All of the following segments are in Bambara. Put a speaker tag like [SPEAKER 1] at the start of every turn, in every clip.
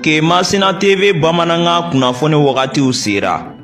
[SPEAKER 1] ke masina tv bamanankan kunnafoni wagatiw sera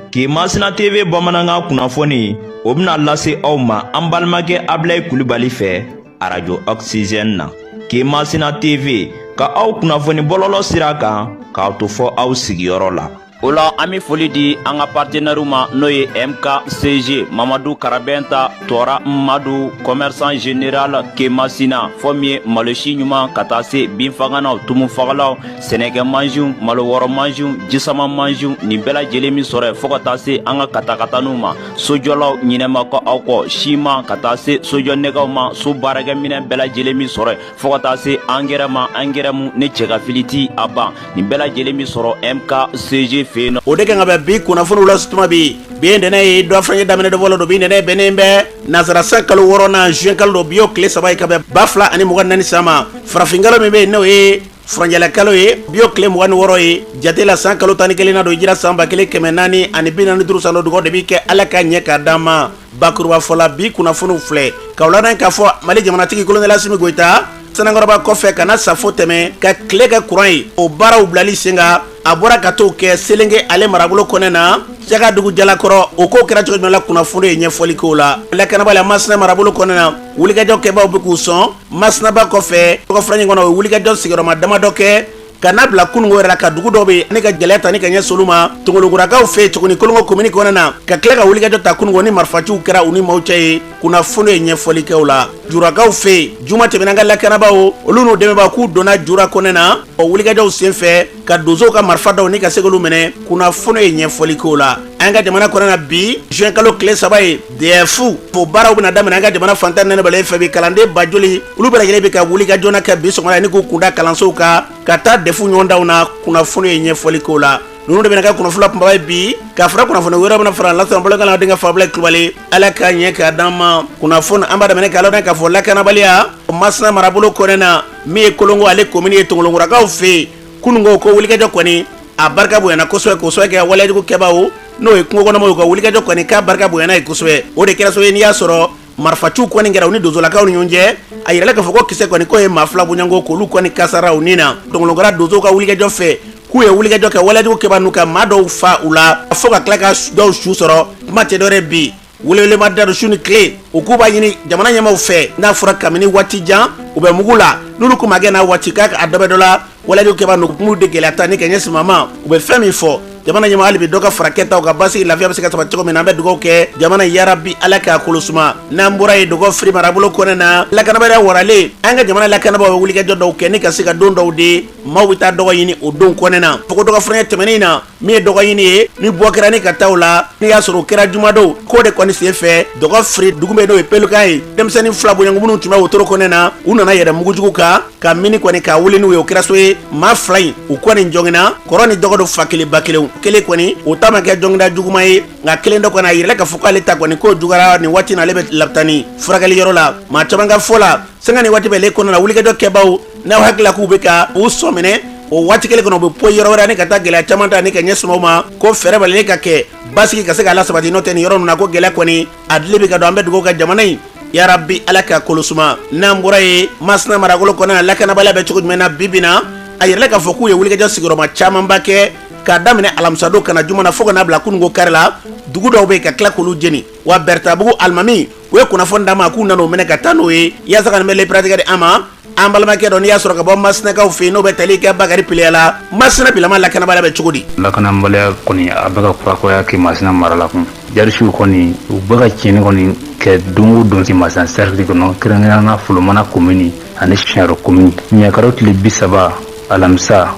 [SPEAKER 1] ke masina tv bamanankan kunnafoni o bɛna lase aw ma an balimakɛ abilayi kulibali fɛ arajo oxygène na ke masina tv ka aw kunnafoni bɔlɔlɔ sira kan k'a to fɔ aw sigiyɔrɔ la o la an be foli di an ka partenɛriw ma n'o ye mkcg mamadu karabɛnta tɔɔra madu kɔmɛrisan general kemasina fɔ min ye malosi ɲuman ka taa se binfaganaw tumufagalaw sɛnɛkɛ mansiw malo wɔrɔ mansiw jisama mansiw nin bɛɛ lajɛlen be sɔrɔ yen fɔɔ ka taa se an ka katakataniw ma sojɔlaw ɲinɛ ma kɛ aw kɔ siman ka taa se sojɔnɛgɛw ma so baarakɛminɛn bɛɛ lajɛlen be sɔrɔ yen fɔɔ ka taa se angɛrɛ ma angɛrɛ mu ne cɛ ka fili ti a ban nin bɛɛ lajɛlen be sɔrɔ mkcg fɛ yen nɔ o de kan ka bɛn bi kunnafoniw lase tuma bi bi ye ntɛnɛ ye dɔgɔ furancɛ daminɛ don fɔlɔ don bi ntɛnɛ bɛnnen bɛ nasara san kalo wɔɔrɔnan juin kalo don bi y'o tile saba ye ka bɛn ba fila ani mugan ni naani san ma farafinkalo min bɛ yen n'o ye furancɛla kalo ye bi y'o tile mugan ni wɔɔrɔ ye jate la san kalo tan ni kelennan don hijira san ba kelen kɛmɛ naani ani bi naani duuru san don duga de be kɛ ala k'a ɲɛ k'a d'an ma bakurubafɔ la bi kunnafoniw filɛ k'aw ladɔn k'a fɔ mali jamanatigi kolonɛli asimi goyita sanankɔrɔba kɔfɛ ka na safo tɛmɛ ka tile kɛ kuran ye o baaraw bilali sen kan a bɔra ka t'o kɛ selenge ale marabolo kɔnɛ na cagadugu jalakɔrɔ o ko kɛra cogo jumɛn la kunnafoni ye ɲɛfɔli k'o la lakanabaliya masina marabolo kɔnɛ na wulikajɔ kɛbaw bɛ k'u sɔn masina ba kɔfɛ dɔgɔ furancɛ kɔnɔ o ye wulikajɔ sigiyɔrɔma damadɔ kɛ ka n'a bila kununko yɛrɛ la ka dugu dɔ bɛ ne ka gɛlɛya ta ni ka ɲɛsin olu ma tongolokurakaw fɛ tuguni kolongo komini kɔnɔna na ka tila ka wulikajɔ ta kununko ni marifaciw kɛra u ni maaw cɛ ye kunnafoni ye ɲɛfɔli kɛ o la jurakaw fɛ juma tɛmɛnen ka lakanabaaw olu n'u dɛmɛbaa k'u donna jura kɔnɛ na o wulikajɔw senfɛ ka donsow ka marifa dɔw ni ka se k'olu minɛ kunnafoni ye ɲɛfɔli kɛ o la an ka jamana kɔnɔna bi juin kalo tile saba ye defu o baaraw bɛna daminɛ an ka jamana fan tan ni naani bɛɛ lajɛlen fɛ bi kalanden ba joli olu bɛɛ lajɛlen bɛ ka wulikajɔ nin kɛ bi sɔgɔmada ni k'u kunda kalansow kan ka taa defu ɲɔgɔndanw na kunnafoni ye ɲɛfɔli k'o la ninnu de bɛna kɛ kunnafoni kunbaba ye bi ka fara kunnafoni wɛrɛ bɛna fara lasɔrɔ bolokan na denkɛ fɛ abilayi kulubali ala k'a ɲɛ k'a d'an ma kunnafoni an b'a daminɛ k'a ladɔn k'a fɔ lakanabaliya masina marabolo kɔnɛ na min ye kolongo ale komini ye tongolokurakaw fɛ yen kununko ko wulikajɔ kɔni a barika bonyana kosɛbɛ k'o sababu kɛ waleyajugu kɛbaaw n'o ye kungo kɔnɔmɔgɔw ka wulikajɔ kɔni k'a barika bonyana ye kosɛbɛ o de kɛra sababu ye n'i y'a sɔrɔ marifaciw kɔni kɛra u ni donsolakaw ni ɲɔgɔn cɛ a yirala k'a fɔ ko kisɛ kɔni k'o ye maa fila bon yan ko k'olu kɔni kasara u ni na tongolokura donsow ka wulikajɔ fɛ k'u ye wulikajɔ kɛ waleyajugu kɛbaa ninnu ka maa dɔw fa u la fo ka tila ka dɔw su sɔrɔ kuma tɛ dɔ wɛrɛ bi Welewele ma da su ni tile u k'u b'a ɲini jamana ɲɛmaaw fɛ n'a fɔra kabini waati jan u bɛ mugu la n'olu ko ma kɛ n'a waati k'a a dɔ bɛ dɔ la walejugu kɛbaa ninnu de gɛlɛya ta ni ka ɲɛsin maa ma u bɛ fɛn min fɔ jamana ɲɛmaa hali bi dɔ ka fara kɛta kan basigi lafiya bɛ se ka sabati cogo min na an bɛ dugawu kɛ jamana yarabi ala k'a kolosuma n'an bɔra yen dɔgɔfiri marabolo kɔnɛ na lakanabaliya waralen an ka jamana lakanabaaw bɛ wulikajɔ dɔw kɛ ni ka se ka don dɔw de maaw bɛ taa dɔgɔ ɲini o don kɔnɛ na fo dɔgɔ fɛnkɛ tɛmɛnen in na min ye dɔgɔ ɲini ye ni bɔ kɛra ni ka taa o la n'i y'a sɔrɔ o kɛra jumadon k'o de kɔni sen fɛ dɔgɔfiri dugu bɛ n'o ye pelukan ye denmisɛnnin fila boɲangu minnu tun bɛ wotoro kɔnɛ na u nana yɛlɛ mugujugu kan ka mini kɔni k'a wuli n'u ye o kɛra so ye maa fila in u kɔni jogina kɔrɔ ni dɔgɔ don fa kelen ba kelenw kelen kɔni o ta ma kɛ joginda juguman ye nka kelen dɔ kɔni a yirala k'a fɔ k'ale ta kɔni k'o jugara nin waati na ale bɛ labitani furakɛli yɔrɔ la maa caman ka fɔ la sanga ni waati bɛɛ le kɔnɔ na wulikajɔ kɛbaaw n'aw hakili la k'u bɛ ka u sɔminɛ o waati kelen kɔnɔ u bɛ poyi yɔrɔ wɛrɛ ani ka taa gɛlɛya caman ta ni ka ɲɛsin o ma ko fɛɛrɛ balilen ka kɛ basigi ka se k'a lasabati n'o tɛ nin yɔrɔ ninnu na ko gɛlɛya kɔni a dili bɛ ka don an bɛ dugawu kɛ jamana in yarabi ala ka kolosuma n'an bɔra yen masina marabolo kɔnɔ lakanabaliya bɛ cogo jumɛn na bi bi na a yirala k'a fɔ k'u ye wulikajɔ sigiyɔrɔma camanba kɛ k'a daminɛ alamisadon ka na juma na fo ka n'a bila kununko kari la dugu dɔw bɛ yen ka tila k'olu jeni wa bɛrɛtabugu alimami u ye kunnafoni d'an ma k'u nana o minɛ ka taa n'o ye yaasa ka nin pereperelatigɛ di an ma an balimakɛ dɔ n'i y'a sɔrɔ ka bɔ masinakaw fɛ yen n'o bɛ tali kɛ bakari piliya la masina bilama lakanabaliya bɛ cogo di lakanabaliya kɔni
[SPEAKER 2] a bɛ ka kurakuraya kɛmasina mara la kun jihadisiw kɔni u bɛ ka tiɲɛni kɔni kɛ don o don kɛmasina sɛrikili kɔnɔ kɛrɛnkɛrɛnnenya la folomana komini ani siɲaro komini mɛkalo tile bi saba alamisa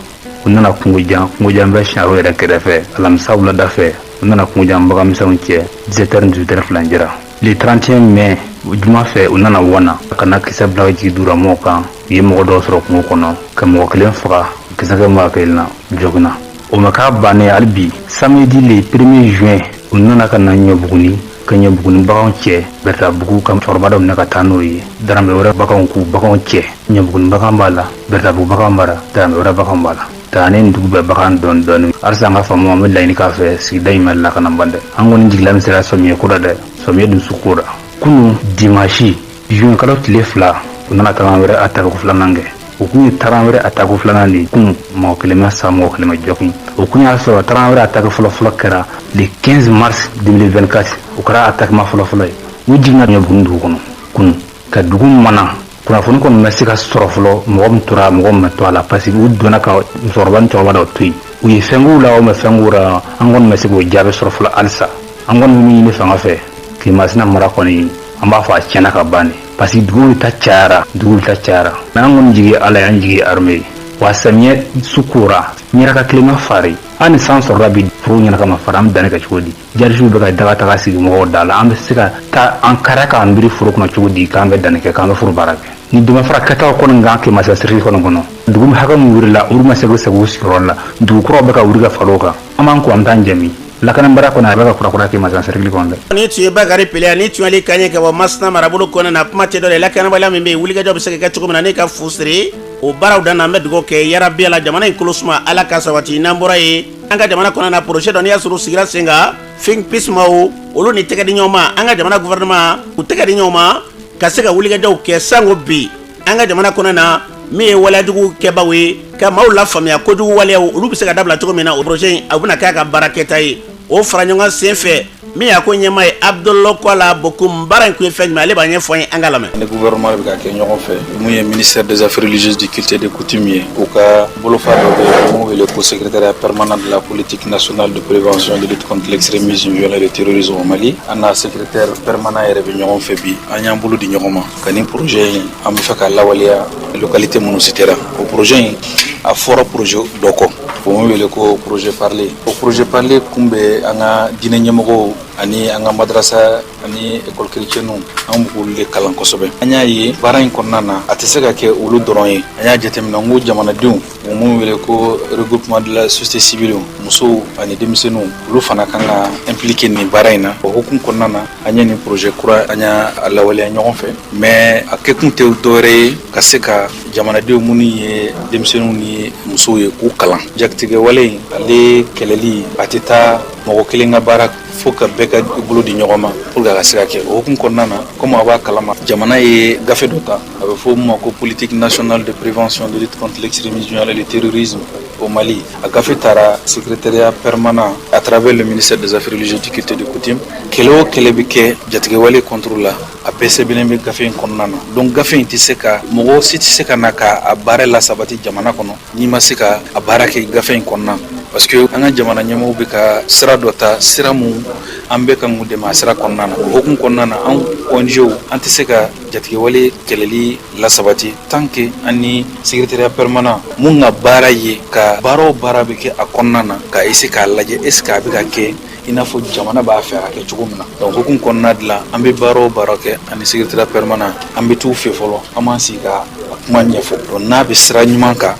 [SPEAKER 2] u nana kungojan kungojan bɛ siɲaro yɛrɛ kɛrɛfɛ alamisa wulada fɛ u nana kungojan baganmisɛnw cɛ 17 heures 18 heures filancɛ la le 31 mai juma fɛ u nana wana ka na kisɛ bila ka jigi dugulamɔgɔw kan u ye mɔgɔ dɔw sɔrɔ kungo kɔnɔ ka mɔgɔ kelen faga kisɛ kɛ mɔgɔ kelen na jogina o ma k'a bannen hali bi samedi le 1er juin u nana ka na ɲɔbuguni ka ɲɔbuguni baganw cɛ bɛrɛtabugu ka cɛkɔrɔba dɔ minɛ ka taa n'o ye daramɛ wɛrɛ baganw k'u baganw cɛ ɲɔbuguni bagan b'a la bɛrɛtabugu bagan b'a la daramɛ wɛrɛ bagan b'a la taa ne dugu bɛɛ bagan dɔɔni dɔɔni halisa an ka faamaw an bɛ laɲini k'aw fɛ sigida in ma lakana ban dɛ an kɔni jigi lamisɛnyara sɔmiyɛ ko la dɛ sɔmiyɛ dusu ko la kunu dimasi Juin kalo tile fila u nana tarawɛrɛ attaque filanan kɛ o tun ye tarawɛrɛ attaque filanan de kun mɔgɔ kelen ma sa mɔgɔ kelen ma jogin o tun y'a sɔrɔ tarawɛrɛ attaque fɔlɔfɔlɔ kɛra le 15 mars 2024 o kɛra attaque ma fɔlɔfɔlɔ ye u j ɲɛ bon dugu kɔnɔ kun ka dugu mana kunnafoni kɔni ma se ka sɔrɔ fɔlɔ mɔgɔ min tora mɔgɔ min ma to a la parce que u donna ka musokɔrɔba ni cɛkɔrɔba dɔ to yen u ye fɛn k'u la u ma fɛn k'u la an kɔni ma se k'o jaabi sɔrɔ fɔlɔ halisa an kɔni bɛ min ɲini fanga fɛ kɛmasina mara kɔni an b'a fɔ a tiɲɛna ka ban de parce que dugu ta cayara dugu ta cayara mais an kɔni jigi ala y'an jigi armée ye wa samiyɛ su kora ɲɛraka tilema fari an ni san sɔrɔla bi forow ɲɛna kama fara an bɛ danni kɛ cogo di jihadisiw bɛ ka daga sigi mɔgɔw da la an bɛ se ka taa an kara k'an biri foro kɔnɔ cogo di k'an bɛ danni kɛ k'an bɛ foro baara kɛ ni dɛmɛ fara kɛtaw kɔni kan Kemasina sɛrɛkili kɔnɔ kɔnɔ dugu min hakɛ min wurila olu ma se k'u segin u sigiyɔrɔ la dugu kuraw bɛ ka wuri ka fara o kan an b'an ko an bɛ taa jɛmi lakanabaliya kɔnɔ a bɛ ka kurakura Kemasina sɛrɛkili kɔnɔ dɛ nin tun ye Bakari Pleya
[SPEAKER 3] nin tun y'ale kan ye ka bɔ masina marabolo kɔnɔ na kuma tɛ dɔwɛrɛ lakanabaliya min bɛ yen wulikajɔ bɛ se ka kɛ cogo min na ni ka fu siri o baaraw dan na an bɛ dugawu kɛ yarabi ala jamana in kolo suma ala ka sabati n'an bɔra yen an ka jamana kɔnɔ na projet dɔ n'i y'a sɔrɔ u sigira sen kan think peace maaw olu ni tɛgɛ di ɲɔgɔn ma an ka jamana gouvernement u tɛgɛ di ɲɔgɔn ma ka se ka wulikajɔw kɛ sango bi an ka jamana kɔnɔ na min ye waleyajugu kɛbaaw ye ka maaw lafaamuya kojugu waleyaw olu bɛ se ka dabila cogo min na o projet in a bɛna kɛ a ka baara kɛta ye o fara ɲɔgɔn sen fɛ min y'a ko ɲɛmaa ye Abdou Kola Bocoum baara in kun ye fɛn jumɛn ale b'a ɲɛfɔ an ye an k'a lamɛn an ni gouvernement bɛ ka
[SPEAKER 4] kɛ ɲɔgɔn fɛ mun ye ministère des affaires religieuses du culte et des coutumes ye u ka bolofara dɔ bɛ yen mun wele ko secrétariat permanent de la politique nationale de prévention de lutte contre l'extrémisme violent et le terrorisme au Mali an n'a secrétaire permanent yɛrɛ bɛ ɲɔgɔn fɛ bi an y'an bolo di ɲɔgɔn ma ka nin projet in an b'a fɛ k'a lawaleya localité minnu sitera o projet in a fɔra projet dɔ kɔ o mun wele ko projet parler o projet parler kun bɛ an ka diinɛ ɲɛmɔgɔw ani an ka madrasa ani ekɔli kerecɛnw an b'olu de kalan kosɛbɛ an y'a ye baara in kɔnɔna na a tɛ se ka kɛ olu dɔrɔn ye an y'a jateminɛ n ko jamanadenw mun wele ko regroupement de la société civile musow ani denmisɛnninw olu fana kan ka impliquer nin baara in na o hukumu kɔnɔna na an ye nin projet kura an y'a lawaleya ɲɔgɔn fɛ mais a kɛkun tɛ dɔwɛrɛ ye ka se ka jamanadenw minnu ye denmisɛnninw ni musow ye k'u kalan jatigɛwale in ale kɛlɛli a tɛ taa mɔgɔ kelen ka baara fo ka bɛɛ ka bolo di ɲɔgɔn ma pour que a ka se ka kɛ o hukumu kɔnɔna na comme a b'a kalama jamana ye gafe dɔ ta A bɛ fɔ mun ma ko politique nationale de prévention de lutte contre l'extrémisme violent et le terrorisme au Mali a gafe taara secrétariat permanent à travers le ministère des affaires religieuses du culte et des coutumes kɛlɛ o kɛlɛ bɛ kɛ jatigɛwale contre la a bɛɛ sɛbɛnnen bɛ gafe in kɔnɔna na donc gafe in tɛ se ka mɔgɔ si tɛ se ka na ka a baara lasabati jamana kɔnɔ n'i ma se ka a baara kɛ gafe in kɔnɔna parce que an ka jamana ɲɛmɔgɔw bɛ ka sira dɔ ta sira mun an bɛ ka mun dɛmɛ a sira kɔnɔna na hukumu kɔnɔna na an ONGw an tɛ se ka jatigɛwale kɛlɛli lasabati tant que an ni secrétariat permanent mun ka baara ye ka baara o baara bɛ kɛ a kɔnɔna na ka essayer k'a lajɛ est ce que a bɛ ka kɛ i n'a fɔ jamana b'a fɛ a ka kɛ cogo min na donc hukumu kɔnɔna de la an bɛ baara o baara kɛ ani secrétariat permanent an bɛ t'u fɛ fɔlɔ an b'an sigi ka kuma ɲɛfɔ donc n'a bɛ sira ɲuman kan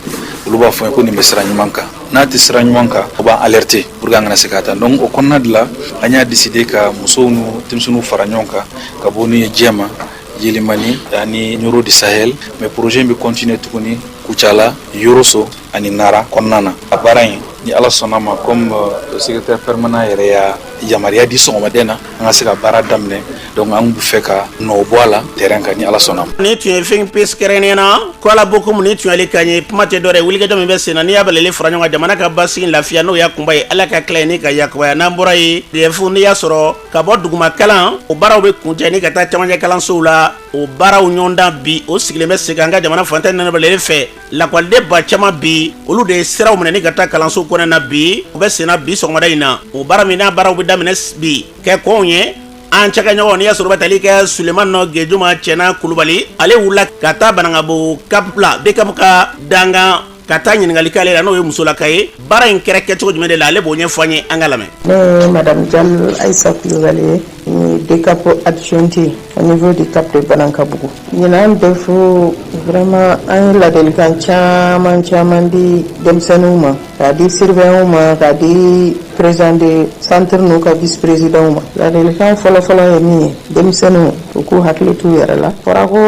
[SPEAKER 4] olu b'a fɔ ko nin bɛ sira ɲuman kan n'a tɛ sira ɲuman kan u b'an alerter pour que an kana se k'a ta donc o kɔnɔna de la an y'a décider ka musow ni denmisɛnninw fara ɲɔgɔn kan ka bɔ n'u ye jɛma yelimani ani ɲoro du sahel mais projet in bɛ continuer tuguni kucala yoroso ani nara kɔnɔna na a baara in ni ala sɔnna ma comme euh, secrétaire permanent yɛrɛ y'a yamaruya di sɔgɔmada in na an ka se ka baara daminɛ donc an bɛ fɛ ka nɔ bɔ a la terrain kan ni ala sɔnna ma nin tun ye fɛn
[SPEAKER 3] pesi kɛrɛnnen na kola bokumu nin tun y'ale kan ye kuma tɛ dɔ wɛrɛ wulikajɔ min bɛ sen na n'i y'a bɛɛ lajɛlen fara ɲɔgɔn kan jamana ka basigi lafiya n'o y'a kunba ye ala ka tila ye ni ka yakubaya n'an bɔra yen DEF n'i y'a sɔrɔ ka bɔ duguma kalan o baaraw bɛ kuncɛ ni ka taa camancɛ kalansow la o baaraw ɲɔgɔndan bi o sigilen bɛ sen kan an ka jamana fan tan ni naani bɛɛ lajɛlen fɛ lakɔliden ba caman bi olu de ye siraw minɛ ni ka taa kalanso kɔnɔna na bi o bɛ senna bi sɔgɔmada in na o baara min n'a baaraw bɛ daminɛ bi kɛ kɔnw ye an cikɛɲɔgɔn n'i y'a sɔrɔ bɛ tali kɛ suleman nɔ gejuma cɛna kulubali ale wulila ka taa banangabo cap la DCAP ka dankan ka taa ɲininkali k'ale la n'o ye musolaka ye baara in kɛra kɛcogo jumɛn de la ale b'o ɲɛfɔ an ye an ka lamɛn. ne ye
[SPEAKER 5] madame jalo ayisa kulubali ye n ye DCAP adjointe au niveau du cap de banankabugu ɲinan DEF vraiment an ye ladelikan caman caman di denmisɛnninw ma k'a di surveillanw ma k'a di président de centre n'u ka vice présidentw ma ladelikan fɔlɔfɔlɔ ye min ye denmisɛnninw U k'u hakili t'u yɛrɛ la fɔra ko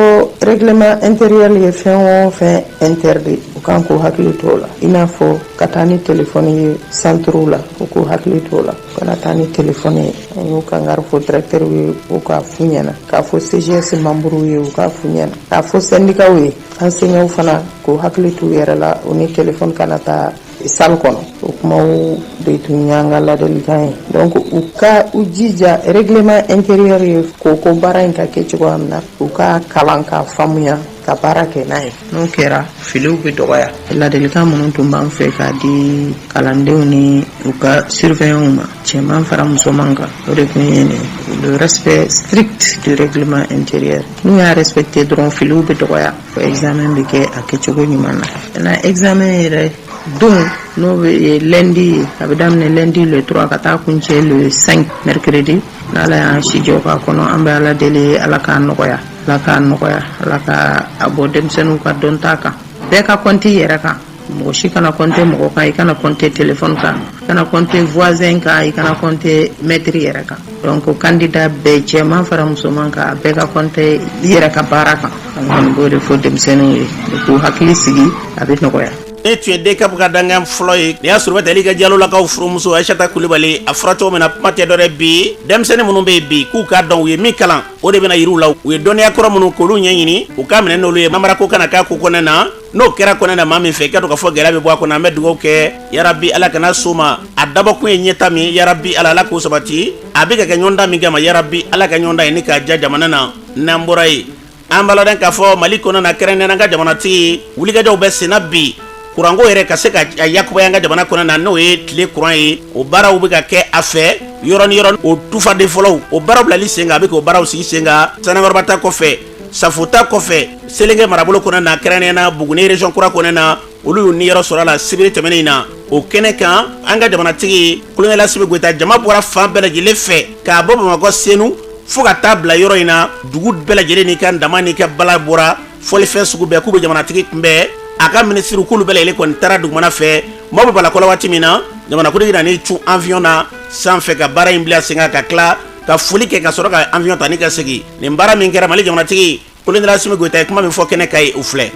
[SPEAKER 5] règlement intérieur ye fɛn o fɛn interdit u kan k'u hakili t'o la i n'a fɔ ka taa ni téléphone ye centrew la u k'u hakili t'o la u kana taa ni téléphone ye an y'u kangari fɔ directeur ye u k'a f'u ɲɛna k'a fɔ CGS membre ye u k'a f'u ɲɛna k'a fɔ syndicatw ye enseignant fana k'u hakili t'u yɛrɛ la u ni téléphone kana taa salle kɔnɔ o kumaw de tun y'an ka ladelikan ye donc u ka u jija règlement intérieur ye ko ko baara in ka kɛ cogoya min na u k'a kalan k'a faamuya ka baara kɛ n'a ye n'o kɛra filiw bɛ dɔgɔya ladelikan minnu tun b'an fɛ k'a di kalandenw ni u ka surveillants ma cɛman fara musoman kan o de tun ye nin le respect strict du règlement intérieur n'u y'a respecter dɔrɔn filiw bɛ dɔgɔya Ko examen bɛ kɛ a kɛcogo ɲuman na na examen yɛrɛ don n'o bɛ lundi ye a bɛ daminɛ lundi le 3 ka taa kuncɛ le 5 mercredi n'ala y'an si jɔ k'a kɔnɔ an bɛ ala deli ala k'a nɔgɔya ala k'a nɔgɔya ala ka a bɔ denmisɛnninw ka dɔnta kan bɛɛ ka compter i yɛrɛ kan mɔgɔ si kana compter mɔgɔ kan i kana compter téléphone kan i kana compter voisin kan i kana compter maître yɛrɛ kan donc candidat bɛɛ cɛman fara musoman kan a bɛɛ ka compter i yɛrɛ ka baara kan an kɔni b'o de fɔ denmisɛnninw ye k'u hakili sigi a bɛ nɔgɔya nin tun ye
[SPEAKER 3] DCAP ka dankan fɔlɔ ye n'i y'a sɔrɔ bɛ tali kɛ jalolakaw furumuso aisata kulibali a fɔra cogo min na kuma tɛ dɔ wɛrɛ bi denmisɛnnin minnu bɛ yen bi k'u k'a dɔn u ye min kalan o de bɛna yira u la u ye dɔnniya kɔrɔ minnu k'olu ɲɛɲini u k'a minɛ n'olu ye namarako kana k'a ko kɔnɔna na n'o kɛra kɔnɛ na maa min fɛ i ka to ka fɔ gɛlɛya bɛ bɔ a kɔnɔ an bɛ dugawu kɛ yarabi ala kana s'o ma a dabɔkun ye ɲɛtaa min yarabi ala ala k'o sabati a bɛ ka kɛ ɲɔgɔndan min kama yarabi ala ka ɲɔgɔndan ye ni k'a diya jamana na n'an bɔra yen an b'a ladɔn k'a fɔ mali kɔnɔ na kɛrɛnkɛrɛnnenya an ka jamanatigi wulikajɔw bɛ senna bi kuranko yɛrɛ ka se ka yakubaya an ka jamana kɔnɔ na n'o ye tile kuran ye o baaraw bɛ ka kɛ a fɛ yɔrɔ ni yɔrɔ o tufaden fɔlɔw o baaraw bilali sen kan a bɛ k'o baaraw sigi sen kan sanankɔrɔba ta kɔfɛ safo ta kɔfɛ selenke marabolo kɔnɔ na kɛrɛnnenya na buguni region kura kɔnɔ na olu y'u niyɔrɔ sɔrɔ a la sibiri tɛmɛnen in na o kɛnɛ kan an ka jamanatigi kolonɛli asimi goyita jama bɔra fan bɛɛ lajɛlen fɛ k'a bɔ bamakɔ senu fɔɔ ka taa bila yɔrɔ in na dugu bɛɛ lajɛlen n'i ka tama n'i ka bala bɔra fɔlifɛn sugu bɛɛ k'u bɛ jamanatigi kunbɛn a ka minisiriw k'olu bɛɛ lajɛlen kɔni taara dugumana fɛ maaw bɛɛ b'a lakɔnɔ waati min na jamanakuntigi nan'i cun awiyɔn na sanfɛ ka baara in bila sen kan ka tila ka foli kɛ ka sɔrɔ ka awiyɔn ta ani ka segin nin baara min kɛra mali jamanatigi kolonɛli asimi goyita ye kuma min fɔ kɛnɛ kan yen o filɛ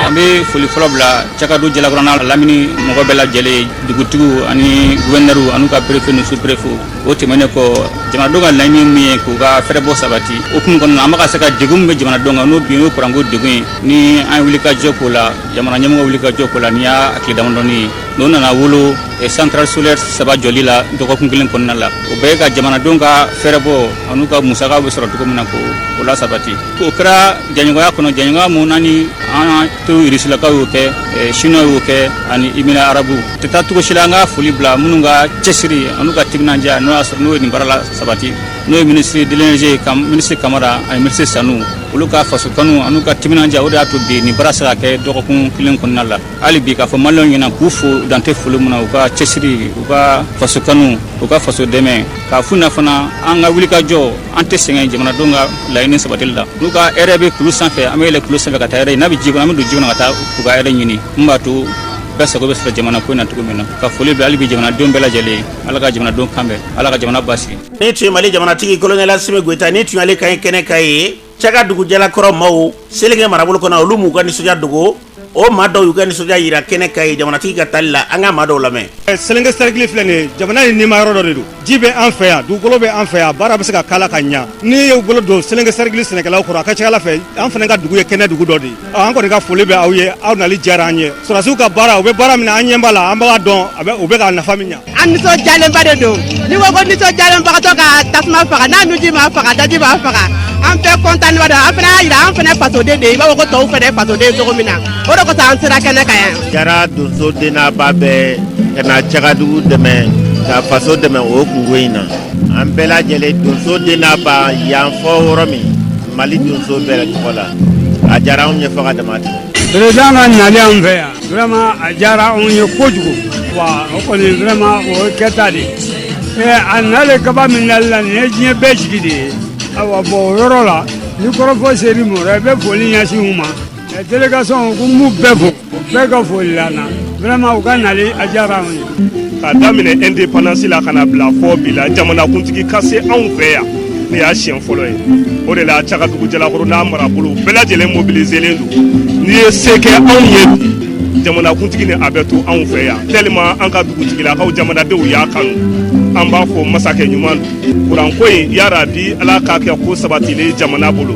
[SPEAKER 3] an
[SPEAKER 6] bɛ foli fɔlɔ bila cakadugu jalakɔrɔ n'a lamini mɔgɔ bɛɛ lajɛlen ye dugutigiw ani gofɛrɛnɛri an'u ka perefe ni superefe o tɛmɛnen kɔ jamanadenw ka laɲini min ye k'u ka fɛrɛbɔ sabati o hukumu kɔnɔ an bɛ ka se ka degun min bɛ jamanadenw kan n'o bi ye kuranko degun ye ni an ye wulikajɔ k'o la jamana ɲɛmɔgɔ wulikajɔ k'o la nin y'a tile damadɔnin ye n'o nana wolo santarali solɛri saba jɔli la dɔgɔkun kelen kɔnɔna la o bɛ ka jamanadenw ka fɛrɛbɔ an'u ka musakaw bɛ sɔrɔ cogo min na k'o lasabati o kɛra jɛɲɔgɔnya kɔnɔ jɛɲɔgɔn minnu naani an to irisilakaw y'o kɛ sini y'o kɛ ani emira arabu tɛ taa cogo si la an ka foli bila minnu ka cɛsiri an'u ka timinandiya n'o y'a sɔrɔ n'o ye nin baara lasabati n'o ye minisiri de l'énergie minisiri kamara ani minisiri sanu olu ka faso kanu an'u ka timinandiya o de y'a to bi nin baara sera ka kɛ dɔgɔkun kelen kɔnɔna la hali bi k'a fɔ maliyɛnw ɲɛna k'u fo dan tɛ foli min na u ka cɛsiri u ka faso kanu u ka faso dɛmɛ k'a f'u ɲɛna fana an ka wulikajɔ an tɛ sɛgɛn jamanadenw ka laɲini sabatili la n'u ka hɛrɛ bɛ kulu sanfɛ an bɛ yɛlɛ kulu sanfɛ ka taa hɛrɛ n'a bɛ ji kɔnɔ an bɛ don ji kɔnɔ ka taa u ka hɛrɛ ɲini min b'a to bɛɛ sago bɛ sɔrɔ jamana ko in na cogo min na ka foli bila hali bi jamanadenw bɛɛ lajɛlen ye ala ka jamanadenw kan bɛn ala ka jamana basigi nin tun ye mali jamanatigi
[SPEAKER 3] kolonɛli asimi goyita nin tun y'ale kan ye kɛnɛ kan yen cakadugu jalakɔrɔ maaw selenke marabolo kɔnɔ olu m'u ka nisɔndiya dogo o maa dɔw y'u ka nisɔndiya yira kɛnɛ kan yen jamanatigi ka taali la an ka maa dɔw lamɛn eh, selenke sɛrikili filɛ
[SPEAKER 7] nin ye jamana in nima yɔrɔ dɔ de don ji bɛ an fɛ yan dugukolo bɛ an fɛ yan baara bɛ se ka k'a la ka ɲa n'i y'u bolo don selenke sɛrikili sɛnɛkɛlaw kɔrɔ a ka ca ala fɛ an fana ka dugu ye kɛnɛ dugu dɔ de ye an kɔni ka foli bɛ aw ye aw nali diyara an ye sɔrɔdasiw ka baara u bɛ baara min na an ɲɛ b'a la an b'a dɔn o bɛ ka nafa min ɲa an nisɔndiyalenba
[SPEAKER 8] de don ni ko ko nisɔndiyalenbagatɔ ka tasuma faga n'a nuji m'a faga daji b'a faga an bɛɛ kɔntannenba don an fana y'a jira an fana fasoden de i b'a fɔ ko tɔw fana fasoden cogo min na o de kosɔn an sera kɛnɛ kan yan. jara donso den
[SPEAKER 9] n'a ba bɛɛ ka na cagadugu dɛmɛ ka faso dɛmɛ o kunko in na an bɛɛ lajɛlen donso den n'a ba yan fɔ yɔrɔ min mali donso bɛɛ tɔgɔ la a diyara anw ye fɔ ka dama tɛmɛ. Président ka nali
[SPEAKER 10] an fɛ yan Vraiment a diyara anw ye kojugu wa o kɔni vraiment o ye kɛta de ye ee a nalen kaba min nali la nin ye diɲɛ bɛɛ jigi de ye awa bɔn o yɔrɔ la ni kɔrɔfɔ seri mɔrɔ i e bɛ foli ɲɛsin u ma délégation ko n b'u bɛɛ fo u bɛɛ ka foli la na vraiment u ka nali a diyara anw ye k'a
[SPEAKER 7] daminɛ indépendance la ka n'a bila fɔ bi la jamanakuntigi ka se anw fɛ yan nin y'a siɲɛ fɔlɔ ye o de la cagadugu jalakɔrɔ n'a marabolo bɛɛ lajɛlen mobiliselen don n'i ye se kɛ anw ye bi jamanakuntigi ni a bɛ to anw fɛ yan tellement an ka dugutigilakaw jamanadenw y'a kanu an b'a fɔ masakɛ ɲuman don kuranko in yarabi ala k'a kɛ ko sabatilen jamana bolo